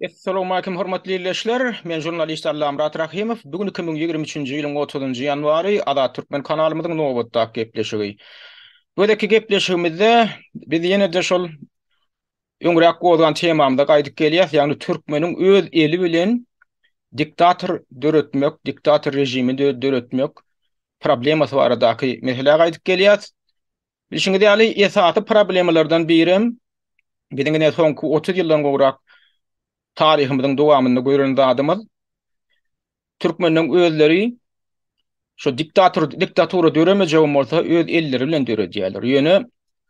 Essalowmalikim hormatly ildeşler, men žurnalist Allamyrat Rahymow, bu gün iki müň ýigrimi üçünji ýylyň otuzynjy ýanwary, Azat Türkmen kanalymyzyň nobatdaky gepleşigi. Gözeki gepleşigimizde biz ýene-de şol öňräk gozgan temamyza gaýdyp gelýäs, ýagny türkmeniň öz eli bilen diktator döretmek, diktator režimi döretmek problemasy baradaky meselä gaýdyp gelýäs. Bilşiňiz ýaly, esasy problemalardan birem, biziň ine soňky otuz ýyldan gowrak taryhymyzyň dowamynda gören zadymyz, türkmenleň özleri şu diktator diktatura döremejegem bolsa öz elleri bilen döredýärler. Ýöne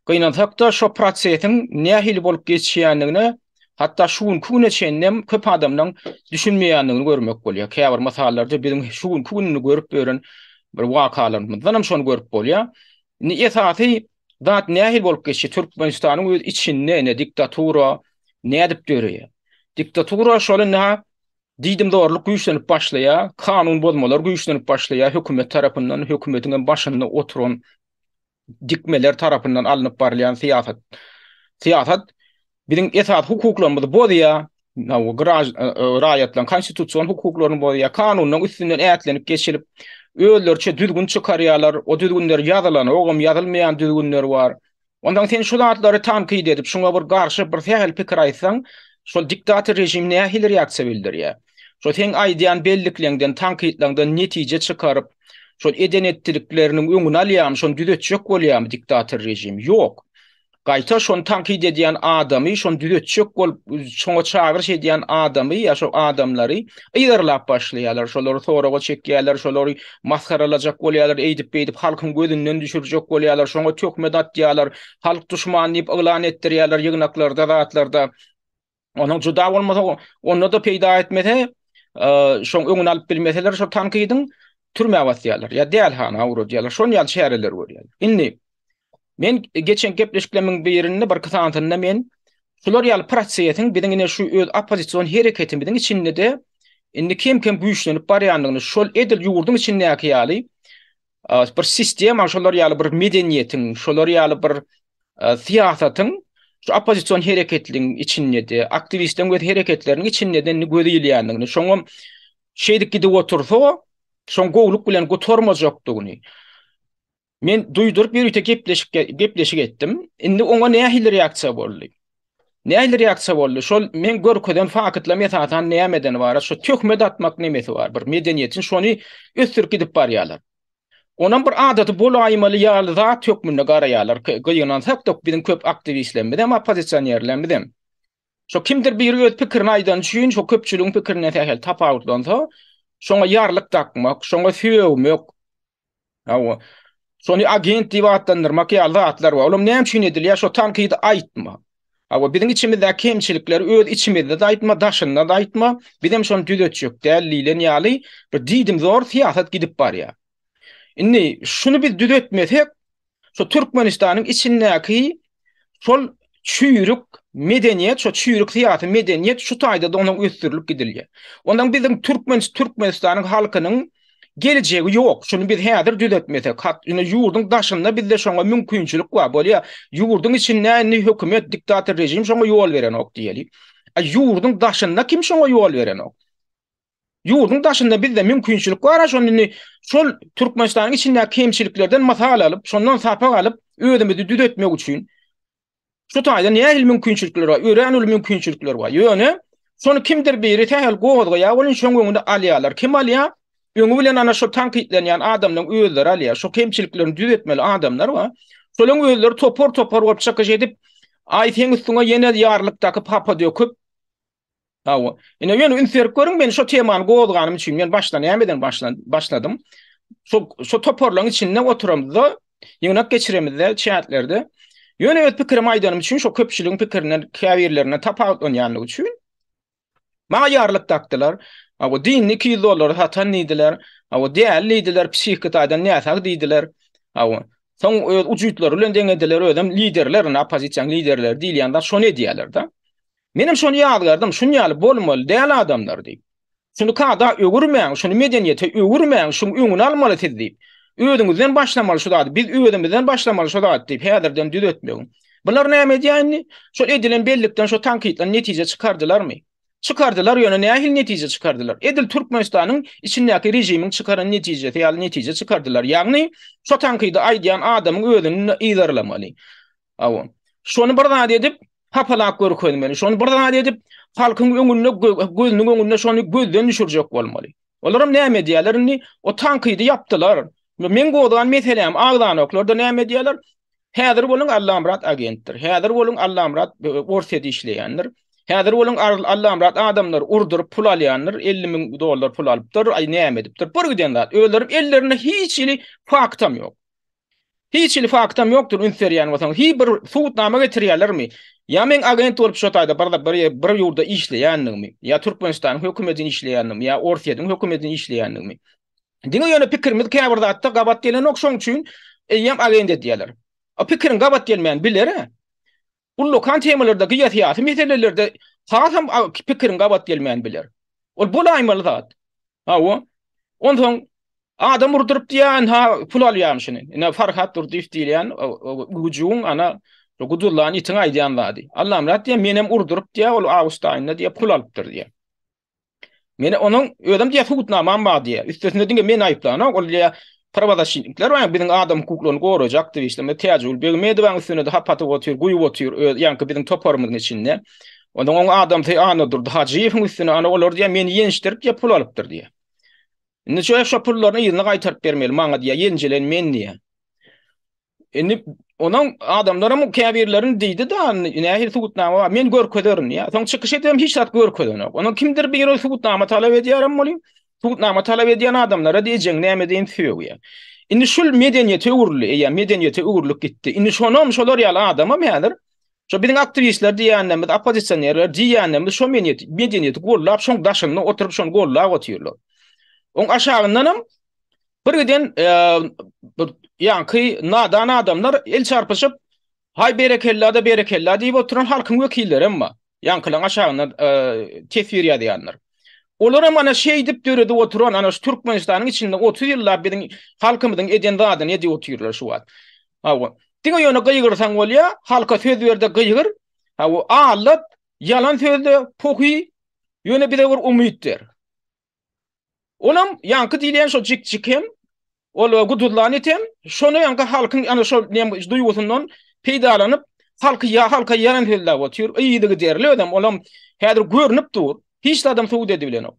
gynansak-da şo prosesiň nähili bolup geçýändigine hatda şu günki güne çenlem köp adamlaň düşünmeýändigini görmek bolýar. Käbir mysallarda biziň şu günki gününi görüp ýören bir wakalarymyzdanam şony görüp bolýar. Indi esasy zat nähili bolup geçýär? Türkmenistanyň öz içinde indi diktatura nädip döreýär? Diktatura şol indi ha diýdim zorluk güýçlenip başlaýar, kanun bozmalar güýçlenip başlaýar hökümet tarapyndan, hökümetiň hem başynda oturan dikmeler tarapyndan alnyp barylýan syýasat. Syýasat Biziň esasy hukuklarymyzy bozýar, raýatlaryň konstitusion hukuklaryny bozýar, kanunyň üstünden ätlenip geçilip, özleriçe düzgün çykarýarlar, o düzgünler ýazylanogam, ýazylmaýan düzgünler bar. Onsoň sen şu zatlary tankyt edip, şuňa bir garşy bir sähel pikir aýtsaň, şol diktator režim nähili reaksiýa bildirýär? Şo seň aýdýan bellikleňden, tankytlaňdan netije çykaryp, şol eden-etdilikleriniň öňüni alýarmy, şony düzetjek bolýarmy diktator režim? Ýok. gaýta şony tankyt edýän adamy, şony düzetjek bolup, şoňa çagyryş edýän adamy ýa şo adamlary yzarlap başlaýarlar, şolary soraga çekýärler, şolary masgaralajak bolýarlar, eýdip-beýdip halkyň gözünden düşürjek bolýarlar, şoňa töhmet atýarlar, halk duşmany diýip yglan etdirýärler ýygnaklarda, zatlarda. Onuň juda bolmasa, onda-da peýda etmese, şoň öňüni alyp bilmeseler, şo tankydyň türmä basýarlar. Ýa dälhana ugradýarlar. Şon ýaly çäreler görýärler. Indi men geçen gepleşikleriň birinde bir kysantynda men şular ýaly prosesiň biziň ine şu öz oppozision hereketimiziň içinde-de indi kem-kem güýçlenip barýandygyny, şol edil ýurduň içindäki ýaly bir sistema şolar ýaly bir medeniýetiň, şolar ýaly bir syýasatyň şu oppozision hereketligiň içinde-de, aktiwistleriň öz hereketleriniň içinde-de gözi ilýändigini, şoňam şeýdip gidip otursa, şoň gowulyk bilen gutarmajakdygyny men duýduryp, ýörite gepleşik gepleşik etdim. Indi oňa nähili reaksiýa boldy? Nähili reaksiýa boldy? Şol men görkezen faktlam esasan nämeden ibarat? Şu töhmet atmak nemesi bar? Bir medeniýetiň şony ösdürip gidip barýarlar. Onam bir adaty bolaýmaly ýaly zat hökmünde garaýarlar. Gynansak da biziň köp aktiwistlerimiz hem oppozisionerlerimiz hem. Şo kimdir biri öz pikirini aýdan üçin şo köpçüligiň pikirinden sähel tapawutlansa, şoňa ýarlyk dakmak, şoňa sögmek, Hawa. Şony agent diýip atlandyrmak ýaly zatlar bar. Olam näme üçin edilýär? Şo tankydy aýtma. Hawa, biziň içimizdäki kemçilikleri öz içimizde-de aýtma, daşynda-da aýtma. Biz hem şony düzetjek däl diýlen ýaly bir diýdimzor syýasat gidip barýar. Indi şuny biz düzetmesek, Şu Türkmenistanyň içindäki şol çüýrük medeniýet, şo çüýrük syýasy medeniýet şu taýda da onuň ösdürilip gidilýär. Ondan biziň türkmen Türkmenistanyň halkynyň geljegi ýok. Şuny biz häzir düzetmesek, hat, indi ýurduň daşynda bizde şoňa mümkinçilik bar. Bolýar, ýurduň içinde indi hökümet, diktator režim şoňa ýol berenok diýeli. A ýurduň daşynda kim şoňa ýol berenok? Ýurduň daşynda bizde mümkinçilik bar-a şonda indi şol Türkmenistanyň içindäki kemçiliklerden mysal alyp, şondan sapak alyp, özümizi düzetmek üçin şu taýda nähili mümkinçilikler bar? Örän uly mümkinçilikler bar. Ýöne şony kimdir biri sähel gozgaýar welin şoň öňüni alýarlar. Kim alýar? Öňi bilen ana şol tankytlanýan adamlaryň özleri alýar. Şo kemçiliklerini düzetmeli adamlar bar. Şolaryň özleri topar-topar bolup çykyş edip, aý seň üstüňe ýene ýarlykdaky papa döküp, Hawa. Ine ýöne üns berip görüň, men şo temany gozganym üçin, men başdan näme eden başlan, başladym. Şo şo toparlaryň içinde oturamyzda, ýygnak geçiremizde, çätlerde. Ýöne öz pikirim aýdanym üçin, şo köpçüligiň pikirinden, käbirlerinden tapawutlanýanlygy üçin maňa ýarlyk dakdylar. Hawa, dinni 200 dollara satan diýdiler. Hawa, däli diýdiler, psihiki taýdan näsag diýdiler. Hawa. Soň öz ujutlary bilen deňediler, özem liderler, oppozisiýanyň liderleri diýilýän zat şony edýärler-de. Menem şony ýazgardym, şun ýaly bolmaly däl adamlar diýip. Şuny kada öwürmäň, şuny medeniýete öwürmäň, şuň öňüni almaly siz diýip. Özüňizden başlamaly şu zady, biz özümizden başlamaly şu zady diýip häzirden düzetmegiň. Bular näme edýär indi? Şol edilen bellikden şu tankytdan netije çykardylarmy? Çykardylar, ýöne nähili netije çykardylar? Edil Türkmenistanyň içindäki režimiň çykaran netijesi ýaly netije çykardylar. Ýagny, şo tankydy aýdýan adamyň özüni yzarlamaly. Hawa. Şony bir zat edip, hapalap görkezmeli. Şony bir zat edip, halkyň öňünde, gözüniň öňünde şony gözden düşürjek bolmaly. Olaram näme edýärler indi? O tankydy ýapdylar. Men gozgan meselem, agzanoklar da näme edýärler? Häzir boluň Allamyrat agentdir. Häzir boluň Allamyrat Orsýet işleýändir. Häzir boluň Allamyrat adamlar urduryp pul alýandyr, 50 müň dollar pul alypdyr, aý näme edipdir. Bir giden zat, özlerem ellerinde hiç hili faktam ýok. Hiç hili faktam ýokdur üns berýän bolsaň hi bir subutnama getirýälermi ýa meň agent bolup şo taýda bir ýurda işleýändigimi ýa türkmenistanyň hökümedin işleýändigimi ýa orsýediň hökümedin işleýändigimi diňe ýöne pikirimiz käbir zatda gabat gelenok şoň üçin eýýäm agent edýäler o pikiriň gabat gelmän bilerä Ullakan temalarda, geosyýasy meselelerde hasam pikiriň gabat gelmän biler. Ol bolaýmaly zat. Hawa. Onsoň adam urduryp diýýän, ha, pul alýarmyş şuny. Ine, Farhat Durdyýew diýilýän güjügiň, ana, guduzlan itiň aýdýan zady. Allamyrat diýýär, menem urduryp diýýär, ol awgust aýynda diýýär, pul alypdyr diýýär. Meni onuň özüm diýýär subutnamam bar diýýär. Üstesine diňe meni aýyplanok, ol diýýär prawazaşitnikler bar, biziň adam hukuklaryny gorajak diýip işlemek Täjigül Begmedowaň üstüne-de hap atyp otyr, guýup otyr öz ýaňky biziň toparymyzyň içinde. Onsoň oň adamsy Annadurdy Hajyýewiň üstüne ana olar diýýär meni ýençdirip diýýär pul alypdyr diýýär. Indi şo pullaryny yzyna gaýtaryp bermeli maňa diýýär ýenjilen men diýýär. Indi onuň adamlaram käbirlerini diýdi-de, nähili subutnama bar, men görkezerin diýýär. Soň çykyş edibem hiç zat görkezenok. Onuň kimdir biri subutnama talap edýärem bolýa, subutnama talap edýän adamlara diýjegiň näme diýen sögýär. Indi şul medeniýete öwrüldi, eýýäm medeniýete öwrülip gitdi. Indi şonam şolar ýaly adamam häzir şu biziň aktiwistler diýýänlerimiz, oppozisionerler diýýänlerimiz şu medeniýeti gollap, şoň daşynda oturyp, şony gollap otyrlar. Oň aşagyndanam Birgiden ýaňky nadan adamlar el çarpyşyp, Haý berekella-da berekella diýip oturan halkyň wekillerem bar. Ýaňkylaň aşagynda teswir ýazýanlar. Olaram ana şeýdip döredip oturan, ana şu Türkmenistanyň içinde otuz ýyllap biziň halkymyzyň eden zadyny edip otyrlar şu wagt. Hawa, diňe ýöne gygyrsaň bolýar, halka söz ber-de gygyr, hawa, aldat, ýalan sözle, pohy, ýöne bize bir umyt ber. Onam ýaňky diýilýän şo jik-jik hem, ol guduzlan it hem, şony ýaňky halkyň ana şo nem duýgusyndan peýdalanyp, halky ýa halka ýaran sözläp otyr. Yzygiderli özem olam häzir görnüp dur. Hiç zadam subut edibilenok.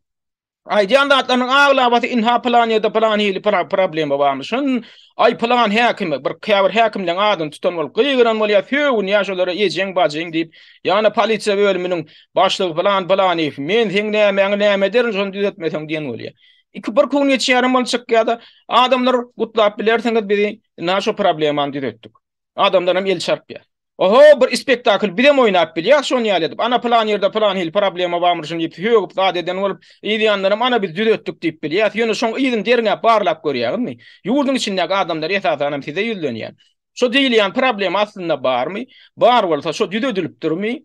Aýdýan zatlarynyň aglabasy ynha pylan ýerde pylan hili problema barmyşyn, aý pylan häkime, bir käbir häkimleň adyny tutan bolup gygyran bolýar, sögünýär şolara ejeň-bajyň diýip, ýa-da polisiýa bölüminiň Başlygy pylan pylanyf men seň nämäňi näme ederin şony düzetmeseň diýen bolýar. Iki bir gün geçýärin bol çyk ýa-da adamlar gutlap bilersiňiz bizi na şu problemany düzetdik. Adamlar hem el çarpýar. Oho bir ispektakl bizem oýnap bilýäs şony ýaly edip ana pylan ýerde pylan hil problema barmyr şuny diýip sögüp zat eden bolup ýanlaram ana biz düzetdik diýip bilýäs ýöne şoň yzyny derňäp barlap görýäňizmi ýurduň içindäki adamlar esasanam size ýüzlenýär Şu diýilýän problema aslynda barmy? Bar bolsa şu düzedilipdirmi?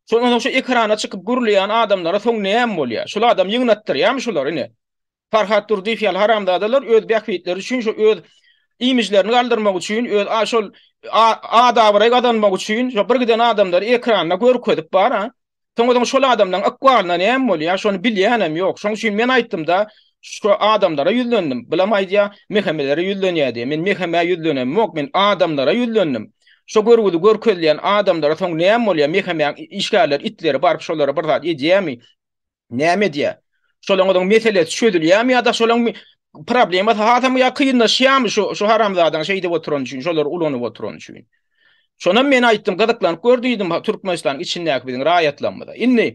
Şol onda şu ekrana çykyp gürleýän adamlara soň näme bolýar? Şul adam ýygnatdyrýamy şular ine? Farhat Durdyýew ýaly haramzadalar öz bähbitleri üçin şu öz imijlerini galdyrmak üçin öz a şol ad-abraý gazanmak üçin şu bir giden adamlary ekranda görkezip bar-a. Soň özüň şol adamlaryň ykbalyna näme bolýar, şony bilýänem ýok. Şoň üçin men aýtdym-da, şu adamlara ýüzlendim. Bulam aýdýar, Mehemelere ýüzlenýär diýip. Men Mehemä ýüzlenemok, men adamlara ýüzlendim. Şo görgüdi görkezýän adamlara soň näme bolýar, Mehemäň işgärleri, itleri baryp şolara bir zat edýärmi? Näme edýär? Şolaň özüň meselesi çözülýärmi ýa-da şolaň problemasy hasam ýa kynlaşýarmy şu şu haramzadaň şeýdip oturan üçin, şolary ulanyp oturan üçin. Şonam men aýtdym, gyzyklanyp gör diýdim Türkmenistanyň içindäki biziň raýatlarymyza. Indi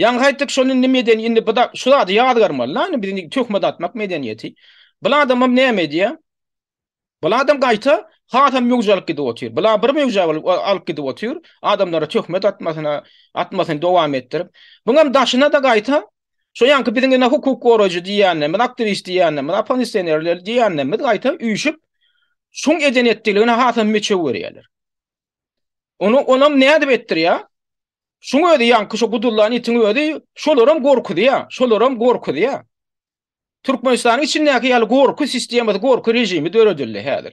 ýaňy aýtdyk şony indi medeni indi bu da şu zady ýazgarmaly-da indi biz indi töhmet atmak medeniýeti. Bu adamam näme edýär? Buladan gaýta hasam möwje alyp gidip otyr. Bula bir möwje bolup alyp gidip otyr. Adamlara töhmet atmasyna, atmasyny dowam etdirip. Buňam daşyna-da gaýta şo ýanky biziň ene hukuk goraýjy diýýänlerimiz, aktiwist diýýänlerimiz, oppozisionerler diýýänlerimiz gaýta üýşüp şuň eden etdiligine hasam meçew görýärler. Ony onam nädip etdirýär? Şuň özi ýanky şo gudullan itiň özi şolaram gorkuzýar, şolaram gorkuzýar. Türkmenistanyň içindäki ýaly gorky sistemasy, gorky režimi döredildi häzir.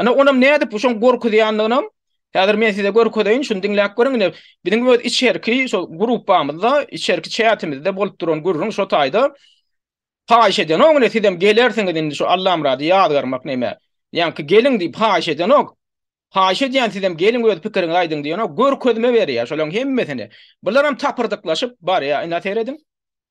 Ine, onam nädip şoň gorkuzýanlygynam häzir men size görkezeýin, şuny diňläp görüň. Ine, biziň öz içerki şo gruppamyzda, içerki çätimizde bolup duran gürrüň şo taýda. Haýyş edenok, ine, sizem gelersiňiz indi şu Allamyrady ýazgarmak näme. Ýaňky geliň diýip haýyş edenok. Haýyş edýän sizem geliň öz pikiriňizi aýdyň diýenok. Görkezme berýär şolaryň hemmesini. Bularam tapyrdyklaşyp barýar. Ine, serediň.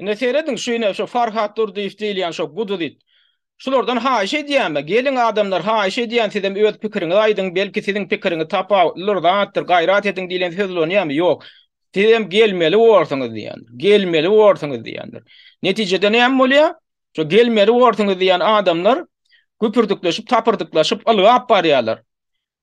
Ine seýrediň şu ine şu Farhat Durdyýew diýilýän şo guduzit. Şulardan haýyş edýänme, geliň adamlar haýyş edýän sizem öz pikiriňizi aýdyň, belki siziň pikiriňiz tapawutlydyr zatdyr, gaýrat ediň diýlen söz ulanýamy, ýok. Sizem gelmeli borsuňyz diýýändir, gelmeli borsuňyz diýýändir. Netijede näme bolýar? Şo gelmeli borsuňyz diýýän adamlar güpürdikleşip, tapyrdyklaşyp ylgap barýarlar.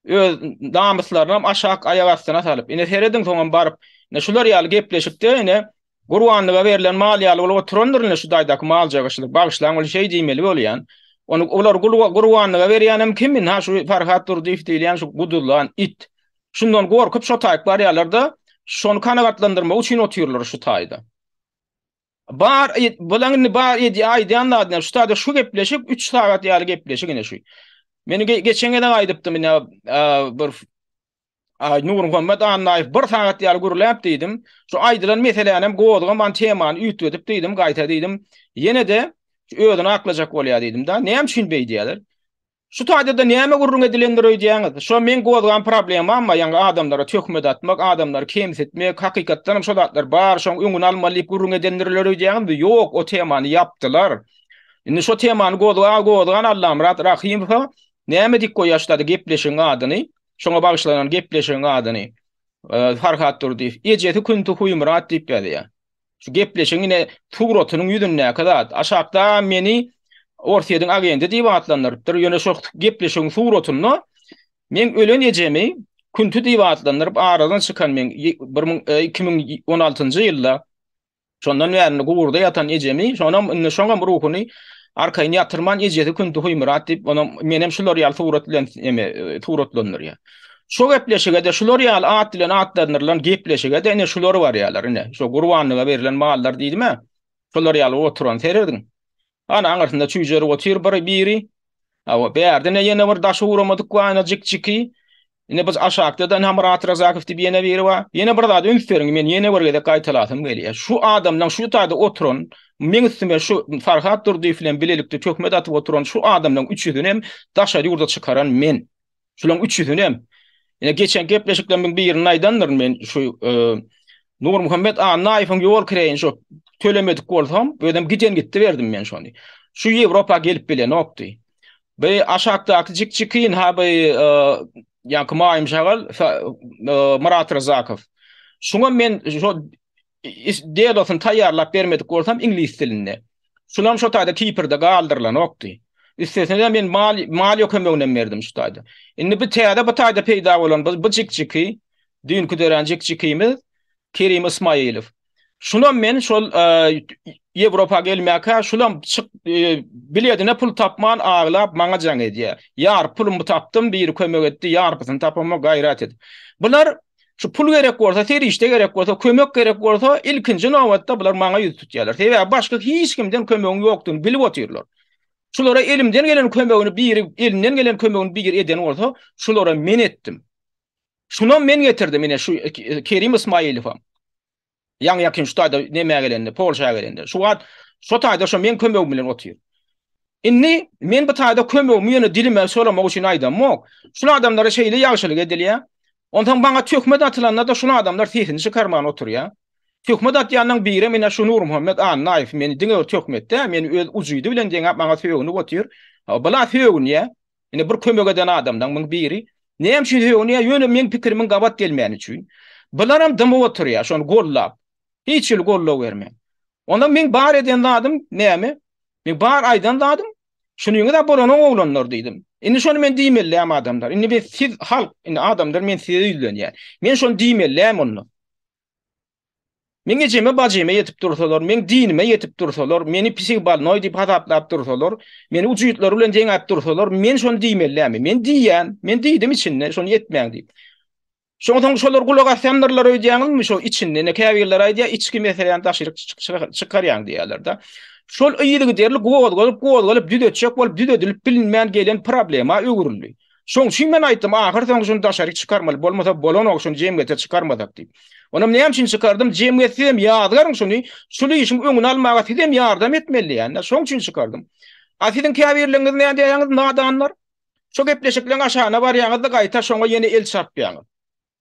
öz namyslarynam aşak aýak astyna salyp, ine serediň soňam baryp, ine şular ýaly gepleşikde ine gurbanlyga berlen mal ýaly bolup oturandyr ine şu daýdaky malja gyşydyr, bagyşlaň ol şeý diýmeli bolýan. Ony olar gurbanlyga berýänem kim indi ha şu Farhat Durdyýew diýilýän şu guduzlan it. Şundan gorkup şo taýyk barýarlar-da, şony kanagatlandyrmak üçin otyrlar şu taýda. Bar, bulaň indi bar edýä aýdýan zadyna şu sada şu gepleşik 3 sagat ýaly gepleşik ine şu. Meni geçen gezek aýdypdym ine bir Ay Nurmuhammet Annaýew bir sagat ýaly gürläp diýdim. Şu aýdylan meselänem gozgaman temany üýtgedip diýdim, gaýta diýdim. Ýene-de özüni aklajak bolýar diýdim-de. Näme üçin beýdýärler? Şu taýdada näme gürrüň edilendir öýdýäňiz? Şo meň gozgan problemammy, ýaňy adamlara töhmet atmak, adamlary kemsitmek, hakykatdanam şo zatlar bar, şoň öňüni almaly diýip gürrüň edendirler öýdýäňizmi? Ýok, o temany ýapdylar. Indi şo temany gozga gozgan Allamyrat Rahymowa näme dik goýaşlady gepleşigiň adyny, şoňa bagyşlanan gepleşigiň adyny, Farhad Durdyýew, ejesi Künti Huýmyrat diýip ýazýar. Şu gepleşigiň ine suratynyň ýüzündäki zat. Aşakda meni Orsýetiň agendi diýip atlandyrypdyr. Ýöne şu gepleşigiň suratynda meň ölen ejemi Künti diýip atlandyryp aradan çykan meň bir müň e, iki müň on altynjy ýylda şondan bäri guburda ýatan ejemi, şonam indi şoňam ruhuny arkaýyn ýatyrman ejesi Künti Huýmyrat diýip, onam menem şular ýaly surat bilen eme e, suratlandyrýar. Şo gepleşige-de şular ýaly at bilen atlandyrylan gepleşige-de ine şular barýarlar ine. Şo gurbanlyga berlen mallar diýdim-ä. Şolar ýaly oturan serediň. Ana aňyrsynda çüýjerik otyr bir biri. Hawa, bärdine ýene bir daşy uramadyk bar ine jik-jiki. Ine biz aşakda-da ine Myrat Razakow diýip ýene biri bar. Ýene bir zat üns beriň, men ýene bir gezek gaýtalasym gelýär. Şu adamlaň şu taýda oturan, meň üstüme şu Farhat Durdyýew bilen bilelikde töhmet atyp oturan şu adamlaň üçüsini hem daşary ýurda çykaran men. Şularyň üçüsini hem ýene geçen gepleşiklerimiň birinde aýdandyryn men şu e, Nurmuhammet Annaýewiň ýol kireýini şu tölemedik bolsam, özüm giden gitdi berdim men şony. Şu Ýewropa gelip bilenokdy. Bu aşakdaky jik-jikin ha bu e, ýa-da Maýym Şagal e, Murat Ryzakow. Şuňa men şu dedosyny taýýarlap bermedik bolsam iňlis dilinde. Şulam şo taýda tipirde galdyrylanokdy. Üstesine men mal maliýe kömeginem berdim şu taýda. Indi bu täze bu taýda peýda bolan bu jikjiki düýnki dörän jikjikimiz Kerim Ismaýylow. Şunam men şol Ýewropa gelmäkä şulam çyk e, biledine pul tapman aglap maňa jaň edýär. Ýar pulumy tapdym, biri kömek etdi, ýarpysyny tapama gaýrat edip. Bular Şu pul gerek bolsa, serişde gerek bolsa, kömek gerek bolsa, ilkinji nobatda bular maňa ýüz tutýarlar. Sebäbi başga hiç kimden kömegiň ýokdugyny bilip otyrlar. Şulara elimden gelen kömegini biri, elinden gelen kömegini biri eden bolsa, şulara men etdim. Şuna men getirdim ine şu e, Kerim Ismaýilowam. Ýaňy ýakyn şu taýda nämä gelende, Polşa gelende. Şu wagt şo taýda şo meň kömegim bilen otyr. Indi men bu taýda kömegimi ýöne dilime solamak üçin aýdamok. Şul adamlara şeýle ýagşylyk edilýä. Onsoň maňa töhmet atylanda-da şul adamlar sesini çykarman oturýa. Töhmet atýanyň birem ine şu Nurmuhammet Annaýew meni diňe bir töhmetde meni öz ujydy bilen deňäp maňa sögünip otyr. Bula sögünýä. Indi bir kömek eden adamdan muň biri näme üçin höwünýär? Ýöne meň pikirimiň gabat gelmäni üçin. Bularam dymyp oturýar, şony gollap. Hiç hili goldaw bermän. Onda meň bar eden zadym näme? Meň bar aýdan zadym, şunyňyz-a bolanyň oglanlar diýdim. Indi şony men diýmellämi adamlar? Indi men siz halk, indi adamlar men size ýüzlenýän. Men şony diýmellämi onda? Meň ejeme bajyma ýetip dursalar, meň dinime ýetip dursalar, meni pisig balnoý diýip hasaplap dursalar, meni ujytlary bilen deňäp dursalar, men şony diýmelidämi? Men diýýän, men diýdim içinde, şony etmäň diýip. Şonsoň şolar gulak asýandyrlar öýdýäňizmi şo içinde? Ine käbirler aýdýar, içki meseläni daşaryk çykarýaň diýýärler-de. Şol yzygiderli gozgalyp, gozgalyp düzetjek bolup düzedilip bilinmän gelen problema öwrüldi. Şoň üçin men aýtdym, ahyr soňy şuny daşaryk çykarmaly, bolmasa bolanok şuny jemgyýete çykarmasak diýip. Onam näme üçin çykardym, jemgyýet siz hem ýazgaryň şuny, şul işiň öňüni almaga siz hem ýardam etmeli diýende, şoň üçin çykardym. A siziň käbirleriňiz näme diýýäňiz, nadanlar? Şo gepleşikleň aşagyna barýaňyz-da gaýta şoňa ýene el çarpýaňyz.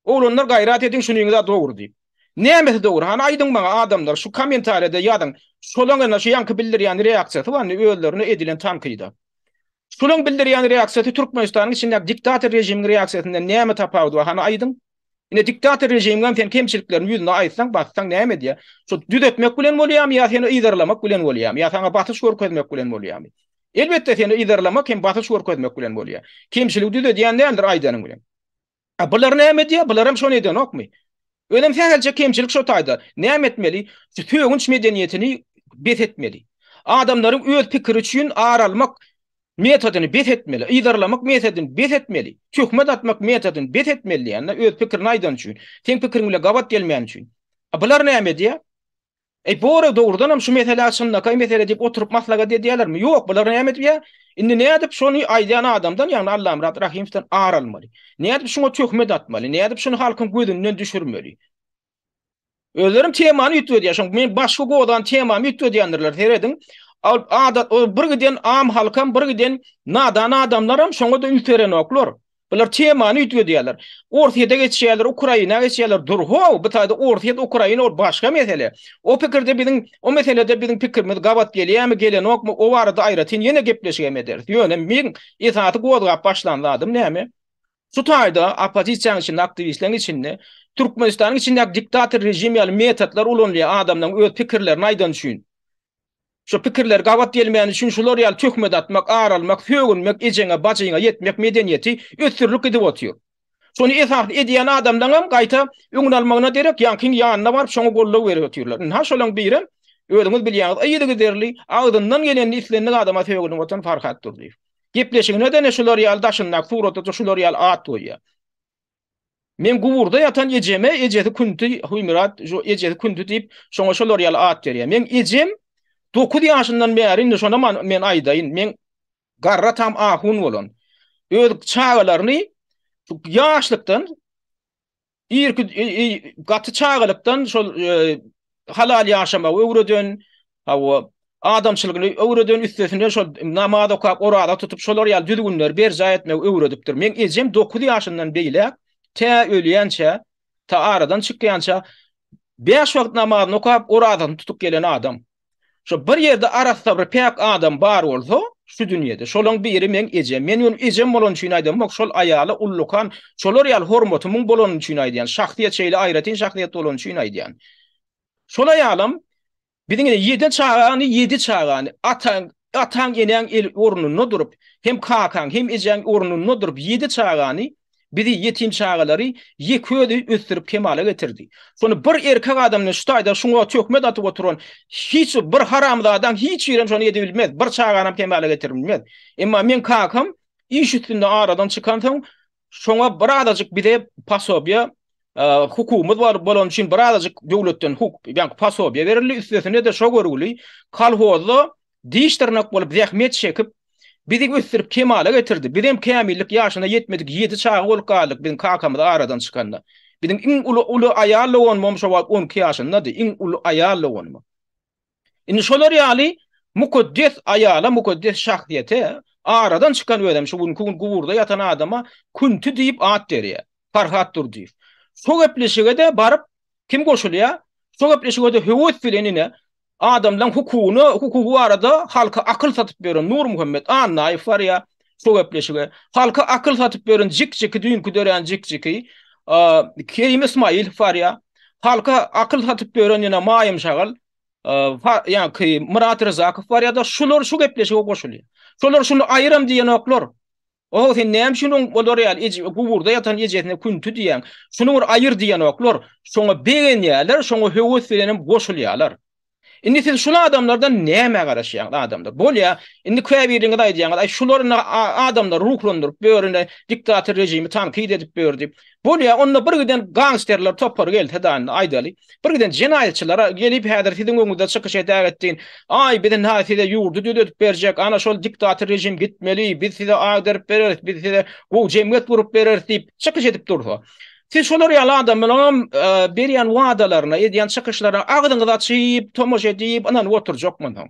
Oglanlar gaýrat ediň şunyňyza dogry diýip. Nämesi dogry hany aýdyň maňa adamlar şu komentarýada ýazyň şolaň ene şu ýaňky bildirýän reaksiýasy barmy özlerine edilen tankyda. Şolaň bildirýän reaksiýasy Türkmenistanyň içindäki diktator režimiň reaksiýasyndan näme tapawudy bar hany aýdyň. Ine diktator režimiňem sen kemçiliklerini ýüzüne aýtsaň bassaň näme edýär. Şo düzetmek bilen bolýamy ýa seni yzarlamak bilen bolýamy ýa saňa basyş görkezmek bilen bolýamy. Elbetde seni yzarlamak hem basyş görkezmek bilen bolýar. Kemçiligi düzedýän däldir aýdanyň bilen. A bular näme edýär? Bular hem şony edýänokmy? Özem sähelçe kemçilik şo taýda. Näme etmeli? Şu sögünç medeniýetini bes etmeli. Adamlaryň öz pikiri üçin ar almak metodyny bes etmeli. Yzarlamak metodyny bes etmeli. Töhmet atmak metodyny bes etmeli diýýän-de öz pikirini aýdan üçin. Seň pikiriň bilen gabat gelmän üçin. A bular näme edýär? Eý Bora dogrudanam şu meselä çynlakaý mesele diýip oturyp maslagat edýälermi? Ýok bular näme edip ýa? Indi nädip şony aýdýan adamdan ýagny Allamyrat Rahimowdan ar almaly? Nädip şuňa töhmet atmaly? Nädip şuny halkyň gözünden düşürmeli? Özlerem temany üýtgedýär şoň men başky godan temamy üýtgedýändirler serediň. Adat bir giden am halkam bir giden nadan adamlaram şoňa-da üns berenoklar. Bular temany üýtgedýärler. Orsýete geçýärler, Ukraina geçýärler. Dur, how, bu taýda Orsýet, Ukraina ol başga mesele. O pikirde biziň, o meselede biziň pikirimiz gabat gelýärmi, gelenokmy, o barada aýratyn ýene gepleşik hem ederis. Ýöne meň esasy gozgap başlan zadym näme? Şu taýda oppozisiýanyň içinde, aktiwistleriň içinde Türkmenistanyň içindäki diktator režim ýaly metodlar ulanylýar adamlaryň öz pikirlerini aýdany üçin. Şu pikirler gabat gelmäni üçin şular ýaly töhmet atmak, ar almak, sögünmek, ejeňe, bajyňa ýetmek medeniýeti ösdürilip gidip otyr. Şony esasly edýän adamlaňam gaýta öňüni almagyna derek ýaňkyň ýanyna baryp şoňa goldaw berip otyrlar. Ynha şolaň birem özüňiz bilýäňiz yzygiderli agzyndan gelenini islendik adama sögünip oturan Farhat Durdyýew. Gepleşigine-de ene şular ýaly daşyndaky surata-da şular ýaly at goýýar. Men guburda ýatan ejeme ejesi Künti, Huýmyrat, şu ejesi Künti diýip, şoňa şolar ýaly at berýär. Meň ejem dokuz ýaşyndan bäri, indi şonam men aýdaýyn, men garry atam ahun bolan. Öz çagalaryny ýaşlykdan, irki, gaty çagalykdan şol halal ýaşamagy öwreden, Hawa, adamçylygyny öwreden üstesine şol namaz okap, oraza tutup, şolar ýaly düzgünleri berjaý etmegi öwredipdir. Meň ejem dokuz ýaşyndan beýläk tä ölýänçä, tä aradan çykýança bäş wagt namazyny okap, orazasyny tutup gelen adam. Şo bir ýerde arassa bir päk adam bar bolsa, şu dünýede, şolaň biri meň ejem. Men ýöne ejem bolany üçin aýdamok, şol aýala ullakan şolar ýaly hormatymyň bolany üçin aýdýan. Şahsyýet şeýle aýratyn şahsyýet bolany üçin aýdýan. Şol aýalam biziň ýedi çagany, ýedi çagany, ataň, ataň, enäň el ornunda durup, hem kakaň, hem ejäň ornunda durup, ýedi çagany, bizi ýetim çagalary ýeke özi ösdürip kemala getirdi. Şony bir erkek adamdan şu taýda şuňa töhmet atyp oturan hiç bir, bir haramzadaň hiç birem şony edibilmez, bir çaganam kemala getirbilmez. Emma meň kakam iş üstünde aradan çykansoň, Şoňa birazajyk bize posobiýe hukukumyz bar bolany üçin birazajyk döwletden huk, ýa posobiýe berildi. Üstesine-de şo görgüli kolhozda diş dyrnak bolup zähmet çekip bizi ösdürip kemala getirdi. Bizem kämillik ýaşyna ýetmedik ýedi çaga bolup galdyk biziň kakamyz aradan çykanda. Biziň iň uly uly aýal doganymam şo wagt on iki ýaşyndady. Iň uly aýal doganym. Indi şolar ýaly mukaddes aýala, mukaddes şahsyýete aradan çykan özem şu günki gün guburda ýatan adama Künti diýip at berýär. Farhat Durdyýew. Şo gepleşige-de baryp kim goşulýar? Şo gepleşige-de höwes bilen ine adamlaň hukugyny, hukugy barada halka akyl satyp ýören Nurmuhammet Annaýew barýar. şu gepleşige. Halka akyl satyp beren jik-jiki düýnki dörän jik-jiki. Kerim Ismail Farya. Halka akyl satyp beren ýene Maýym Şagal. Ýa ki Murat Rzakow bar ýa-da şular şu gepleşige goşulýar. Şular şuny aýyram diýenoklar. O sen näme üçin oň olar ýaly eje guburda ýatan ejesine künti diýen. Şuny bir aýyr diýenoklar. Şoňa begenýärler, şoňa höwes bilen hem goşulýarlar. Indi siz şul adamlardan nämä garaşýaňyz adamlar? Bolýa, indi käbiriňiz aýdýaňyz, aý şular indi adamlary ruhlandyryp börüne diktator rejimi tankyt edip bör diýip. Bolýa, onda bir giden gangsterler topary gelse da indi aýdaly. Bir giden jenaýatçylar gelip häzir siziň öňüňizde çykyş edäýe etdiň. Aý biz indi size ýurdy düzedip berjek, ana şol diktator rejim gitmeli, biz size agdaryp bereris, biz size gowy jemgyýet gurup bereris diýip çykyş edip dursa. Siz şolar ýaly adamlaram berýän wadalaryna, edýän çykyşlaryna agzyňyzy açyp tomaşa edip ynanyp oturjakmyň soň?